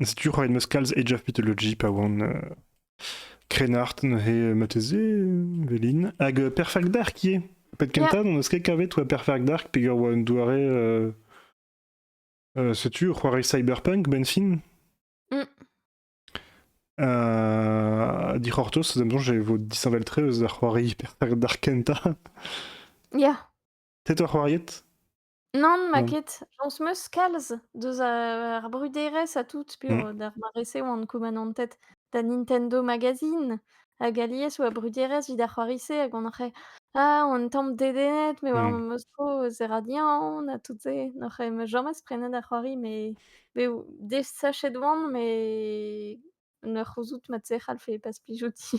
Setu ra en deus kalz Age of Mythology pa oan euh, krennard neuze mateze, Velin. Hag euh, Perfect Dark ivez. Pet kentañ n'en eus ket kavet oa Perfect Dark peger oa un doare... euh, euh, setu, c'hoari cyberpunk, Benfin. Mm. Euh, Dic'hortos, da m'zon, j'ai vo disheñvel-tre eus da c'hoari Perfect Dark kentañ. Ya. Te toa c'hoariet Nann, ma Mmh. ket. Jañs 'm eus kalz deus a ar bruderezh ha tout Mmh. peogwir d'ar mare-se oan koumanantet da Nintendo Magazine hag alies oa bruderezh 'vit ar c'hoari-se hag on oc'h «Ah, on tamm dedennet me war Mmh. ma zro zera diaon» ha tout se. N'oc'h ma james prenet ar c'hoari me bev desachet oan me ne c'houzout mat-se c'hallfe pas plijouti.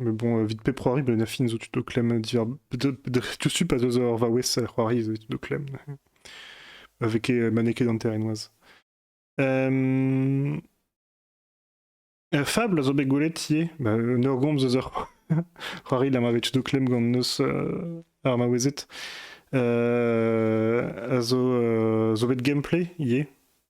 Mais bon, vite pep c'hoari, ben, la fin, zo tu te clem dire. Tu suis pas eur vaouez c'hoari, tu te clem. Avec maneke d'anterenoaz. Euh... Fable a zo bet gwelet ie, ba, un ur gomz eus ur c'hoari la ma tu te clem gant neus euh, ar maouezet. Euh, a zo, euh, zo bet gameplay ie,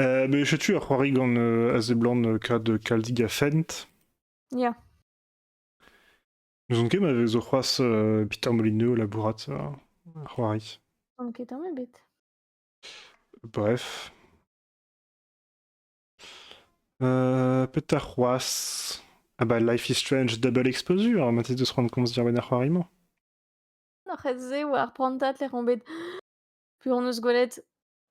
Euh, mais setu ar c'hoari gant euh, a seblant euh, kad kaldig a fent. Ya. N'ouzon ket ma vezo c'hoaz euh, Peter Molyneux labourat euh, ar c'hoari. On ket tamm ebet. Bref. Euh, petar c'hoaz. Ah bah Life is Strange Double Exposure, ma tête de se rendre compte se dire ben ar c'hoari mañ. Nor c'het se oa ar prantad lec'h on bet Plus on eus gwelet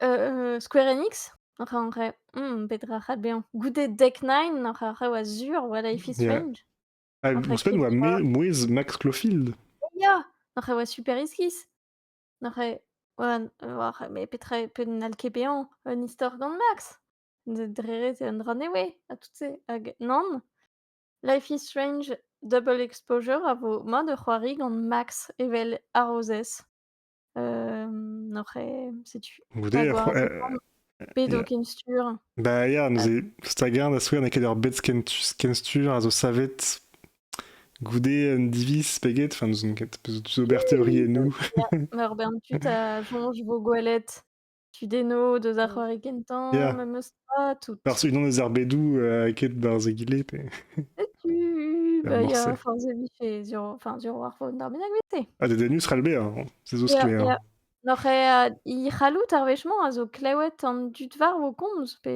euh, Square Enix? Enfin, en vrai, hmm, petra c'hat bezañ? Goude Deck Nine? Enfin, rev a-sur, what life is Yeah. strange? Ah, Entre mon semaine, moi, K3. mouais mouais Max Clofield. Ya! N'aurais ouais, super esquisse. N'aurais ouais, n ouais, mais petra peut n'al ket bezañ un istor gant Max? D dre c'est un runaway, ha tout se hag nann. Life is Strange Double Exposure a vo mat ur c'hoari gant Max evel harozez. Oc'h setu Goude, hag war zaorn pet eo kenstur. Bah ya, neuze, stagarn da skouer n'eo ket ur bed kenstur a zo savet goude un diviz pe get, enfin n'ouzon ket, peus ober teoriennoù. Ur bern tud a soñj vo gwelet. Tudennoù deus ar c'hoari kentañ, Yeah. memes pas, toutes. Par ceux qui ont des arbedoù, heu, ket barzh egile pe Setu, pe bah, il y a morse. forze bife sur enfin sur Warfone ar bennaguete. Ha dedennus 'c'hall bezañ, se zo Ya, sklaer. ya. Noc'h eo, heu, he c'halloud ar wech-mañ a zo klewet an dud war vo komz pe?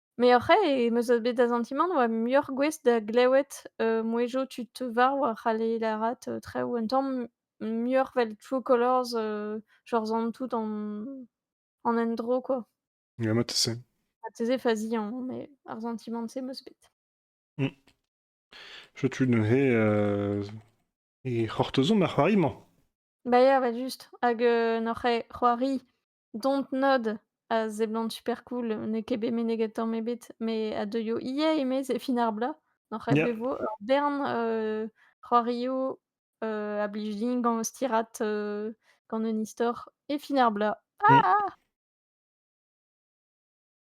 Mais après, e me zo bet da sentimant oa muioc'h gouest da glewet euh, mouezhioù tu te varv a c'halle lârat euh, traoù un tamm muioc'h 'vel True Colors, euh, genre zant tout en, en endro quoi. Ja, ma 'ta se. Ha te se faziañ, mais ar sentimant-se meus bet. Mmh. Je tu neuze euh, e c'hortozomp ar c'hoari-mañ. Bah ya, bah juste, hag euh, n'oc'h c'hoari Don't nod a seblant super cool. N'eo ket bet meneget tamm ebet, mais a deuio ivez, eme c'est fin ar bloaz. N'oc'h ket Yeah. bet 'vo ur bern euh, c'hoarioù euh, a blij din gant stirat euh, gant un istor et fin ar bloaz. Mm. Ah!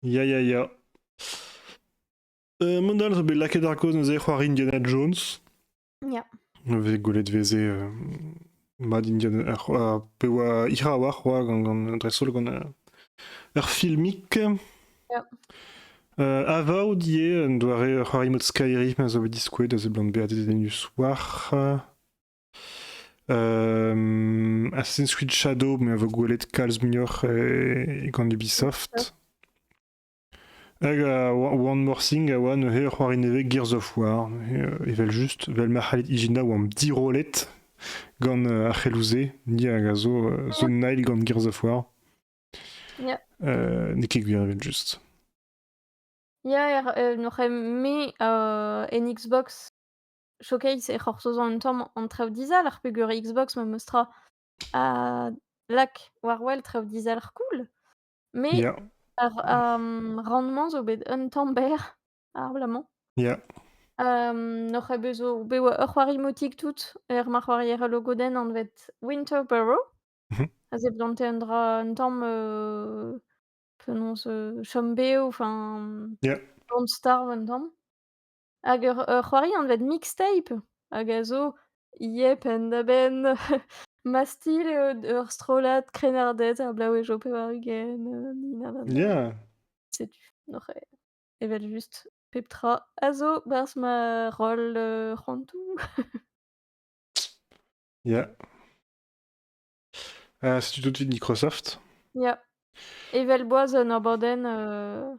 Ya, ya, ya. Euh, mont all zo bet lakaet ar gaoz neuze c'hoari Indiana Jones. Ya. Vez gwelet veze euh, mad Indian ar c'hoa- pe oa hira a-walc'h oa gant gant dreist-holl gant euh, ur filmik. Ya. Euh, Avowed ivez un doare ur c'hoari mode Skyrim a zo bet diskouet a seblant bezañ dedennus war. Euh, Assassin's Creed Shadow, me a vo gwelet kalz muioc'h e, e gant Ubisoft. Hag One More Thing a oa neuze ur c'hoari nevez Gears of War, evel-just, vel ma c'hallit ijinañ oamp dirollet gant ar c'heloù-se, ni hag a zo The Nile gant Gears of War. Yeah. Euh, N'eo ket gwir evel-just. Ya, er, n'oc'h me euh, en Xbox Showcase e c'hortozo un tamm an traoù dizalc'h peger Xbox ma meus tra a lak war wel traoù dizalc'h cool. Mais Yeah, ar euh, rendement zo bet un tamm berr abalamour. yeah, Euh, N'oc'h bet zo bet oa ur c'hoari motik tout er ma c'hoarier logodenn anvet Winterboro. mhm, A zeblante un dra un tamm euh, penaos euh, chom bev, enfin yeah, bon starv un tamm. Hag ur ur c'hoari anvet mixtape hag a zo yep penn-da-benn Mastille eo d ur strollad krennarded er blaouezho pevar-ugent heu ni na na na. Ya! Setu oc'h e evel-just pep tra a zo 'barzh ma roll, heu, c'hoantoù. Ya. Heu, setu tout 'vit Microsoft. Ya, evel boaz un abadenn, heu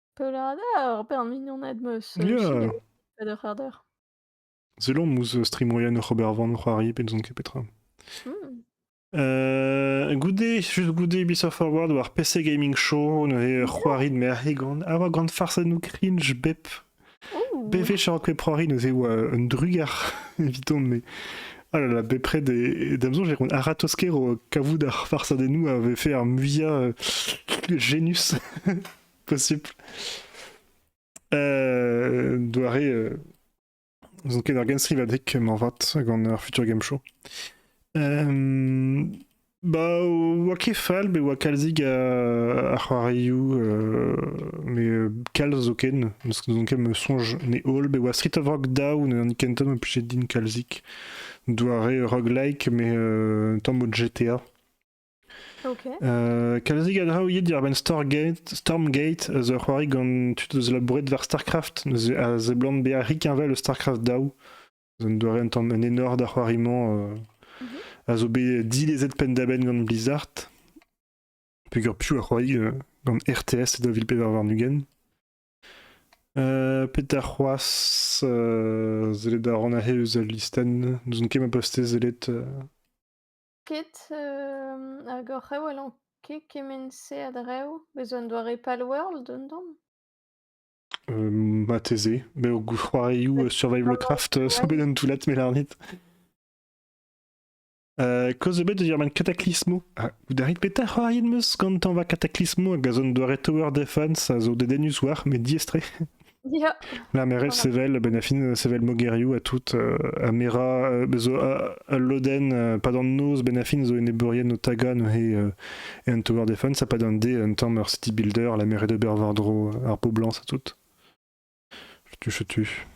Peulada ur bern mignoned 'm eus euh, Ya! sinet pet eur c'harder. Selomp ouzh stream moyen oc'h ober van o c'hoari pe n'ouzon ket petra. Hmm. Euh, goude, juste goude Ubisoft Forward war PC Gaming Show, neuze ur c'hoari de merc'h gant a oa gant farsennoù cringe bep Ouh! BV Charocwe Prori neuze oa un drugar evidon mais ah là là bepred et da mezonj e roont a-ratozh-kero kavout ar farsadennoù a vefe ar muia euh, genius. Possible. Euh, doare euh, zo ket ar genstrivadeg moarvat gant ar Future Game Show. Euh, ba oa ket fall be oa kalzig a, c'hoarioù euh, mais euh, kalz zo ken n'eus ket me sonj ne holl be oa Street of Rock Down an kenta ma plije din kalzik doare roguelike mais euh, tamm o GTA Euh, kalzik a draoù ivit diwar-benn Stormgate, Stormgate a zo ur c'hoari gant tud eus labouret war StarCraft, neuze a seblant bezañ rikkenvel eus StarCraft daou. Un doare un tamm un enor d'ar c'hoari-mañ euh, Mhm. a zo bet dilezet penn-da-benn gant Blizzard, peger piv a c'hoari euh, gant RTS e 2000 warn-ugent. Euh, petra c'hoazh euh, sellet a ran aze eus al listenn, n'ouzon ket ma postez sellet euh, Ket, hag oc'h a-walc'h ket kement-se a-dreñv? Bez' un doare Palworld un tamm? Marteze. Met o c'hoarioù survivalcraft zo bet un toullad me lârit. Kaoz ebet eus ar man Cataclysmo. Ah, oudarit petra c'hoariet 'm eus gantañ va Cataclysmo hag a zo un doare Tower Defense a zo dedennus war, met diaes-tre. Lamerel sevel, ben a fin sevel mogeriou à tout, euh, a mera, euh, bezo al loden, euh, pa d'an noz ben a fin zo enebeurien o taga neuze euh, e un Tower Defense, a pa d'an de un tamm ur city builder, la mer de Bervardro, ar poblans à tout. Je tue, je tue.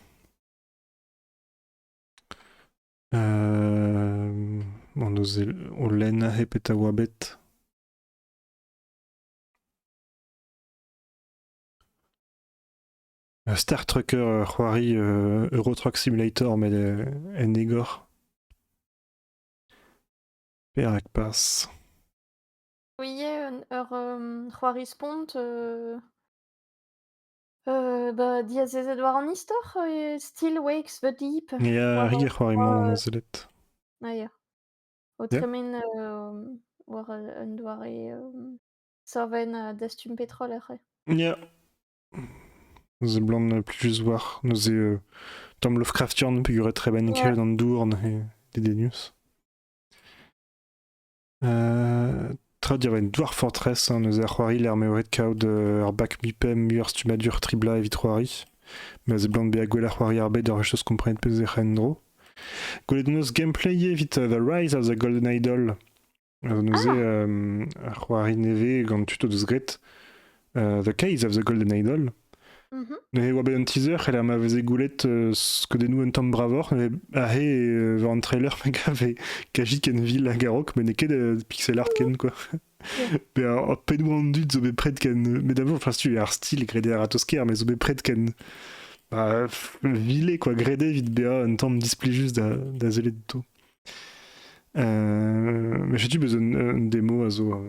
Euh, on ose o len he peta oa bet. Star Trekker, ur c'hoari Eurotrack Simulator met en egor. Perak pas Oui, ur c'hoari spont da diazezet war an istor Still Wakes the Deep. Ya, ur c'hoari-mañ on sellet. Ah ya. O tremen war un doare Saven uh, dastum petrol aze. Ya. Seblant plujus war neuze euh, Tom Lovecraftian peguret trebenn Ouais. kevret an dourn e dedenius. Euh, tra diaven douar fortress, hein, neuze ar c'hoari ler meoret kaout euh, ar bac mi-pem muioc'h stumadur tribla evit c'hoari. Ma seblant bezañ gwell ar c'hoari ar bed ar echos komprenet pezh ec'h en dro. Gwelet hon eus gameplay evit uh, The Rise of the Golden Idol. Alors neuze, Ah, euh, ar c'hoari nevez gant tud o deus graet, euh, The Case of the Golden Idol. mhm. Ne oa bet un teaser, c'heller ma veze goulet euh, skeudennoù un tamm bravoc'h, mais ahe et euh, war an trailer ma gave Kaji Kenville hag Arok, mais n'eo ket euh, pixel art ken, quoi. Be ar ar pennoù an dud zo bet pred ken... Mais d'abord, enfin, si tu ar style gredé Aratosker, mais zo bet pred ken... Bah, vilé, quoi, gredé vite bea un tamm display juste da, da sellet outo. Mais setu bezañ un demo a zo a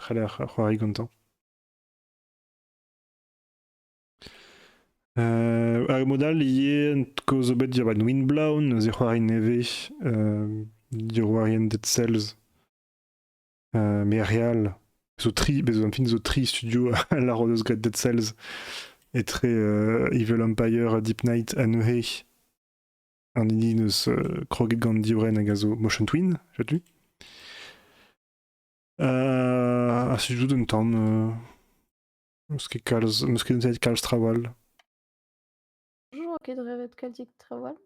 c'haller c'hoari gantañ. Ar mod all ivez kaoz zo bet diorren Windblown, zic'hoari nevez, diorroerien Dead Cells, Merial, zo tri, bez an film zo tri studio a lâro deus graet Dead Cells, etre Evil Empire ha Deep Night anezhe. un hini eus kroget gant divrenn hag a zo Motion Twin, setu. a sujout un tamm. N'eus ket kalz, n'eus ket dezhaet kalz trawal. Toujours ok de rêver de kalzik trawal.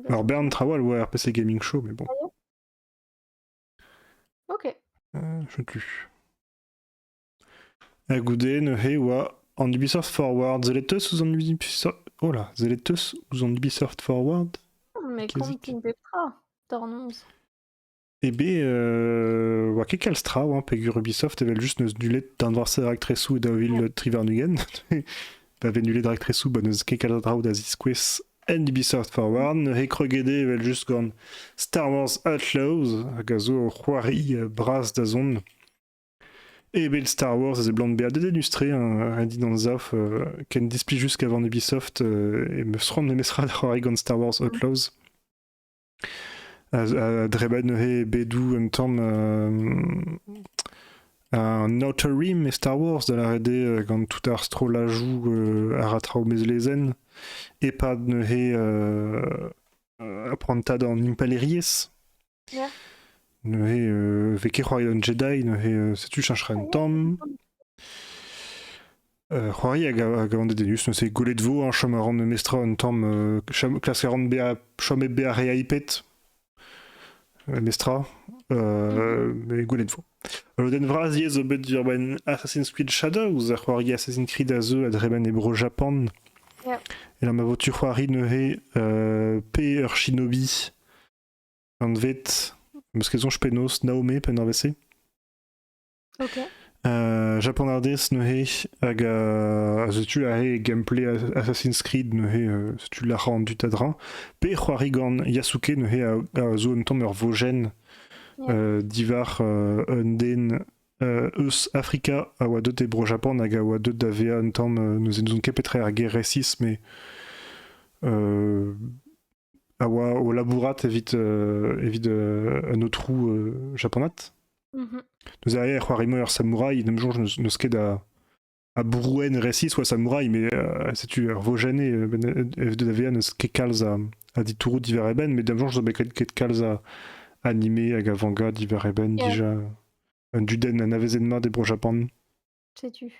Alors Bern Trawal, ouais, RPC Gaming Show, mais bon. Ah ok. Euh, je tue. Ha goude neuze e oa an Ubisoft Forward. Zellet eus ouzh an Ubisoft... Oh là, zellet eus ouzh an Ubisoft Forward Mais qu'est-ce qu'est-ce qu'est-ce Peptra Tornons Eh ben, euh, oa ket kalz tra oa, peger Ubisoft evel just neus nullet d'an war raktresou et davil Trivernugen. pa vez nullet raktresou, ba neus ket kalz a draou da ziskouez en Ubisoft Forward. Neuze kregede evel just gant Star Wars Outlaws, hag a zo o c'hoari euh, bras da zon Et ben Star Wars a seblant bezañ dedennus-tre, hein, ret din anzav, euh, ken displij just gavant Ubisoft euh, e meus c'hoant memestra da c'hoari gant Star Wars Outlaws. A, a drebat neuze bedou un tamm euh, un outer rim e Star Wars da lâret eo euh, gant tout ar strollajoù euh, a ra traoù bez lezenn e-pad neuze euh, prantad an impalaeriezh Neuze, euh, vez ket c'hoari an Jedi, neuze euh, setu cheñchera un tamm. Euh, c'hoari hag a, hag a an Dedenus, neuze gwelet vo, hein, chom a ran memestra un tamm, euh, chom- klask a ran bezañ chomet bezañ re hyped, memestra, euh, mais gwelet vo. Ul lodenn vras yezh zo bet d'ober ben Assassin's Creed Shadows, a c'hoari Assassin's Creed a zeu a dremen e Bro-Japan. Yeah. E lamma vo tu c'hoari neuze euh, pe ur shinobi anvet, meus ket soñj penaos, Naomé, pe norvez-se. Ok. Uh, japanardez neuze, hag uh, setu aze gameplay Assassin's Creed neuze, uh, setu lac'ha an dud a Pe c'hoari gant Yasuke neuze a, a zo un tamm ur vojenn yeah. divar uh, un den uh, eus Afrika a oa deut e Bro-Japan hag a oa deut da vezañ un tamm uh, n'ouzon ket petra er ger resis, mais uh, a oa o labourat evit, evit un aotrou japonat. Mhm. Nous arrive c'hoari ur samouraï, de jour, je ne ket à, à Brouen récit soit samouraï, mais c'est tu Vogène et FDVN ket kalz a, a ditourou divar eben, mais d'un jour, je dois ket kalz a animé hag a vanga divar eben yeah. déjà un dudenn anavezet mat e Bro-Japan. Setu.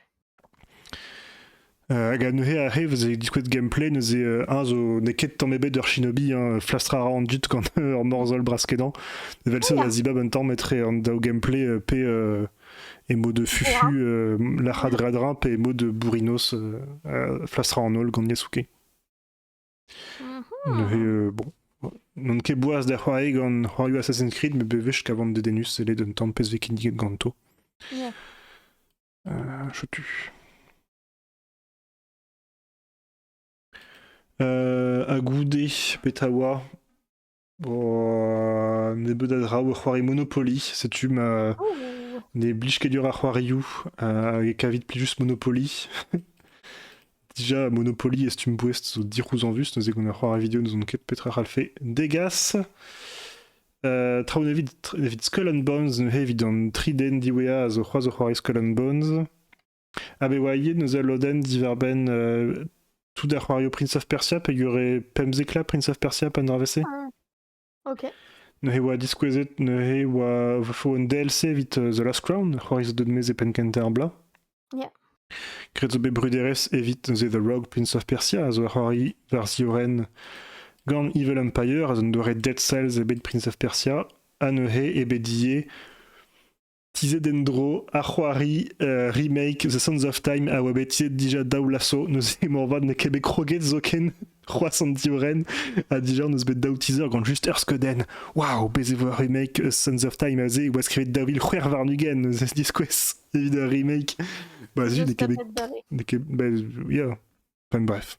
Hag neuze ar re vous avez diskouez gameplay neuze un zo n'eo ket tamm ebet ur shinobi hein, flastra a ra an dud gant ur morzhol braskedan evel ça da zibab un tamm etre an daou gameplay euh, pe euh, e mod de fufu euh, la chadradrin pe e mod de bourrinos flastra en holl gant Yasuke. Neuze, euh, bon, n'on ket boas da c'hoari gant c'hoarioù Assassin's Creed, met bewech kavan dedennus sellet un tamm pezh vez kinniget ganto. Yeah. Euh, chotu. Euh, ha goude, petra oa Bon, nebeut a draoù, c'hoari Monopoly, setu ma... Oh, Ne blij ket dur ar c'hoarioù, euh, e kavit plijus Monopoly. Déjà, Monopoly et Stumpwest zo dirouz en vus, neuze qu'on a c'hoar vidéo, nous on ket petra c'hall fe. Degas, euh, traoù nevit, evit Skull and Bones, neuze evit an tri den diwezhañ a zo c'hoazh o c'hoari Skull and Bones. Ha bet oa ivez neuze ul lodenn diwar-benn tout ar c'hoarioù Prince of Persia peogwir eo pemp éclats Prince of Persia pa dra-se. Ah, ok. Neuze oa diskouezet neuze oa fo un DLC evit The Last Crown, c'hoari zo deut mez e penn kentañ ar bloaz. Yeah. Graet zo bet bruderezh evit neuze The Rogue Prince of Persia a zo c'hoari war ziorenn gant Evil Empire a zo doare Dead Cells e bet Prince of Persia ha neuze e bet die Tizhet en-dro ar c'hoari remake The Sands of Time a oa bet tizhet dija daou lasso. Neuze moarvat n'eo ket bet kroget zoken c'hoazh an divrenn ha dija n'eus bet daou teaser gant just ur skeudenn. Waouh, bez e vo ur remake eus Sands of Time aze e oa skrivet daou vil c'hwec'h warn-ugent neuze diskouez evit ur remake. Bah, zut, n'eo ket bet... Bah, yeah. Enfin bref.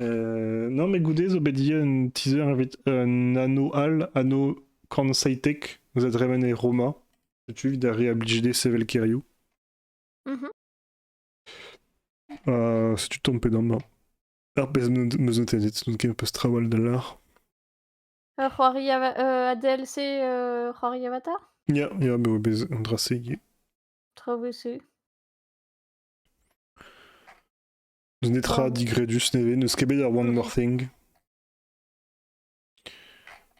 non, mais goude zo bet dija un teaser evit un anno all, anno Cornsaitek, eus a dremen e Roma. Setu evit da re-abliger sevel keriou. Mhm. Uh, setu tompet amañ. Ar pezh meus notennet, n'out ket peus trawal da lar. Euh, c'hoari ava- euh, ADLC euh, c'hoari Avatar? Ya, ya, bet oa bet un dra segi. Trop bossé. N'eus netra digredus nevez, n'eus ket bet ar One More Thing.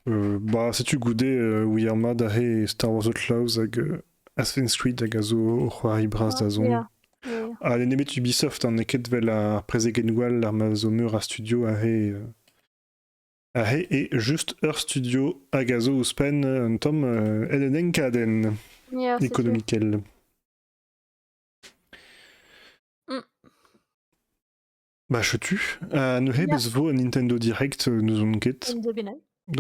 Euh, bah, setu goude euh, We Are Mad aze e Star Wars Outlaws hag euh, Assassin's Creed hag a zo o c'hoari bras da zont. Ah, Ha l'en nemet Ubisoft, an ket vel ar prezegenwall ar ma zo meur a studio aze. euh, aze et juste ur studio hag a zo ouzhpenn euh, un tom euh, Ellen Enkaden, Yeah, c'est sûr. économikel. Bah, chetu. Euh, neuze, bez vo un Nintendo Direct, euh, n'ouzon ket.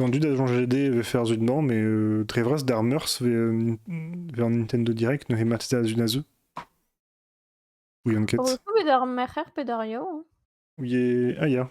An dud a GD veut faire zut dedans, mais euh, Trevras d'Armers veut un Nintendo Direct, neuze Mateta Zunazu. Ou Yanket. Oui, d'Armer, pedario. Oui, ah, ya.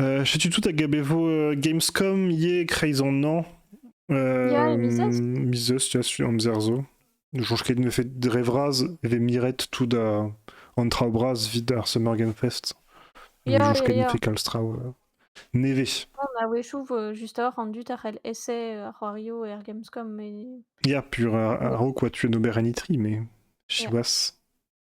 Euh, Setu tout hag a bevo euh, Gamescom ye kreiz an nañ. Ya, mizost. Euh, mizost, ya, su amzer zo. Soñj ket ne fet dre vras e ve miret tout da an traoù bras vit ar Summer Game Fest. Ya, Soñj ket ya, ne ya. fe kalz traoù euh, nevez. On a wechoù vo justoc'h rendu tac'hel essai euh, ar c'hoarioù er Gamescom. Mais... Ya, pur ar- araok oa tu en ober en itri, mais siwazh.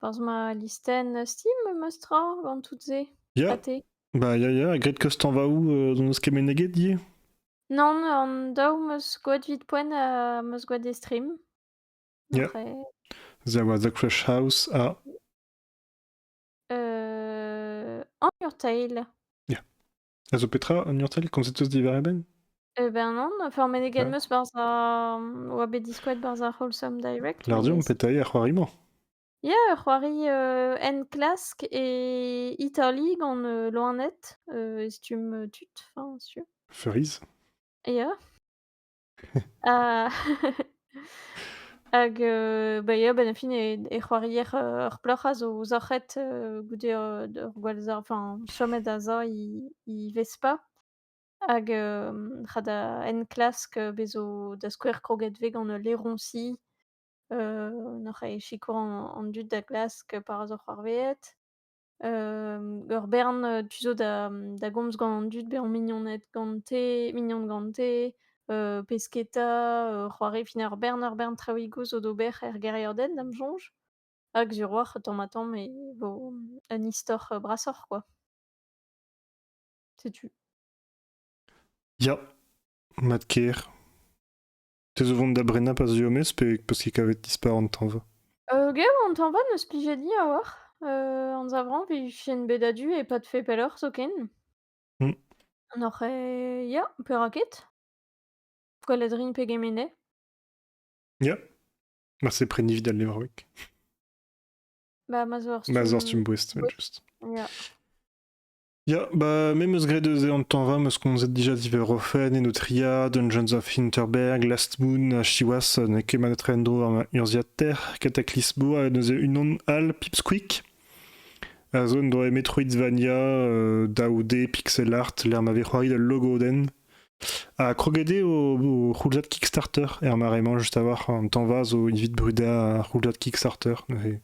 Porzh ma listenn Steam meus tra gant tout-se. Ya, Ha te? bah ya ya, graet kostañvaoù euh, n'on eus ket meneget ivez? Non, an daou meus skoet 'vit poent ha meus skoet e stream. Ya, Après, there was the Crush House à... euh, On Your Tail. A zo petra un urtal komzet eus diwar e benn? Eh ben non, enfin meneget 'm eus barzh ar oa bet diskoet barzh ar Wholesome Direct Lardu on met petaii ar c'hoari-mañ? Ya, ur c'hoari euh, enklask e Italie gant euh, loened, euh, e stumm euh, tud, enfin, sûr. Furiz? Ya. Ah! Hag heu, bah, ia, ben, fin e e c'hoarier, heu, ar plac'h a zo zac'het, heu, goude, heu, d'ur gwall za enfin, chomet da za he he Vespa. Hag hem, c'ha da enklask, heu, bezo da skouer kroget 'vez gant ul laeroñsi, heu, n'oc'h ket sikour an an dud da glask par az oc'h c'hoarveet. Hem, ur bern, heu, tu zo da, mmh, da gomz gant an dud bezañ mignoned gante mignon gante, heu, pesketa, heu, c'hoari. Fin ur bern ur bern traoùigoù zo d'ober er gêriadenn, da'm soñj. Hag sur-walc'h, tamm-ha-tamm e vo, mmh, un istor, heu, brasoc'h, quoi. Setu. Ya, mat-kaer. Te zo vont da brena pas ziomez pe parce que kavet dispar an tanv Euh, ger an tanva n'eus plije di a-walc'h. Euh, anzavran vijien bet adu e pas fait pelloc'h zoken. Mm. On aurait... Ya, perak ket? Gwelet rin pegement eo. Ya. Ma se pren evit al levroeg. Ba, ma zo ur Ma zor stumm boest, met just. Ya. Ya, bah, me 'meus graet eus e an tañva 'meus komzet dija diverofen en ho triad, Dungeons of Hinterberg, Last Moon ha siwazh n'eo ket mat etre en-dro ar urzhiataer Cataclysmo ha neuze unan all Pipsqueak a zo en doa Metroidvania euh, daou D pixel art lec'h ma vez c'hoari d'al logodenn a kroget eo o c'houldad Kickstarter er mare-mañ juste a-walc'h an tañva zo evit brudañ ar c'houldad Kickstarter neuze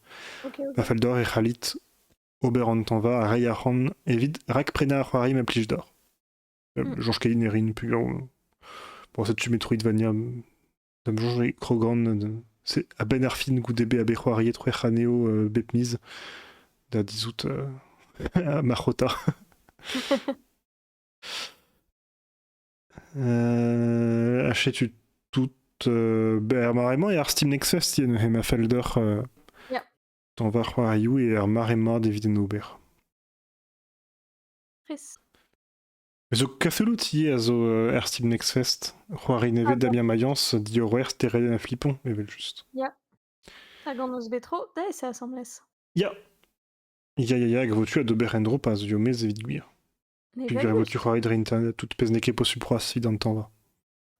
Ok, ok. ma fell deoc'h e c'hallit ober an tañva ha reiñ arc'hant evit rakprenañ ar c'hoari ma plij deoc'h. Euh, hmm. Soñj ket erin peogwir... Bon, setu mes Metroidvania da me soñj Krogan c'est à ben ar fin goude be a bet c'hoariet c'hwec'h anezho euh, bep miz da dizout euh, marc'hota. euh, Achetu tout euh, er mare-mañ e ar Steam Nexus, yen he ma fell deoc'h euh, yeah. Tañ va c'hoarioù eo ar mare mat evit en ober. Chris. Zo Cthulhu ivez a zo euh, er Steam Next Fest. C'hoari nevez Ah, Damien Mayence, diorroer Stereo un flipon, evel-just. Hag an os betro, da eo c'est assemblès. Ya Ya, ya, ya, hag vo tu a d'ober en-dro pa zio mez evit gwir. Puis gwir vo tu c'hoari dre internet, tout pezh n'eo ket posupl c'hoazh sit an tañ va.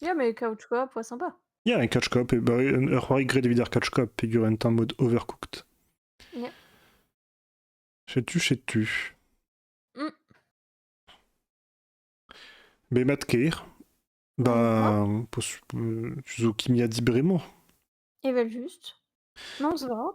Ya, mais couch coop, ouais, sympa. Yeah, un couch coop, et bah, un- ur c'hoari graet evit ar couch coop peger un tamm mod overcooked. Yeah. Setu, setu. Mm. Be mat ker, bah, pos- euh, tu zo kimia di bremañ. Evel juste. Non, c'est drôle.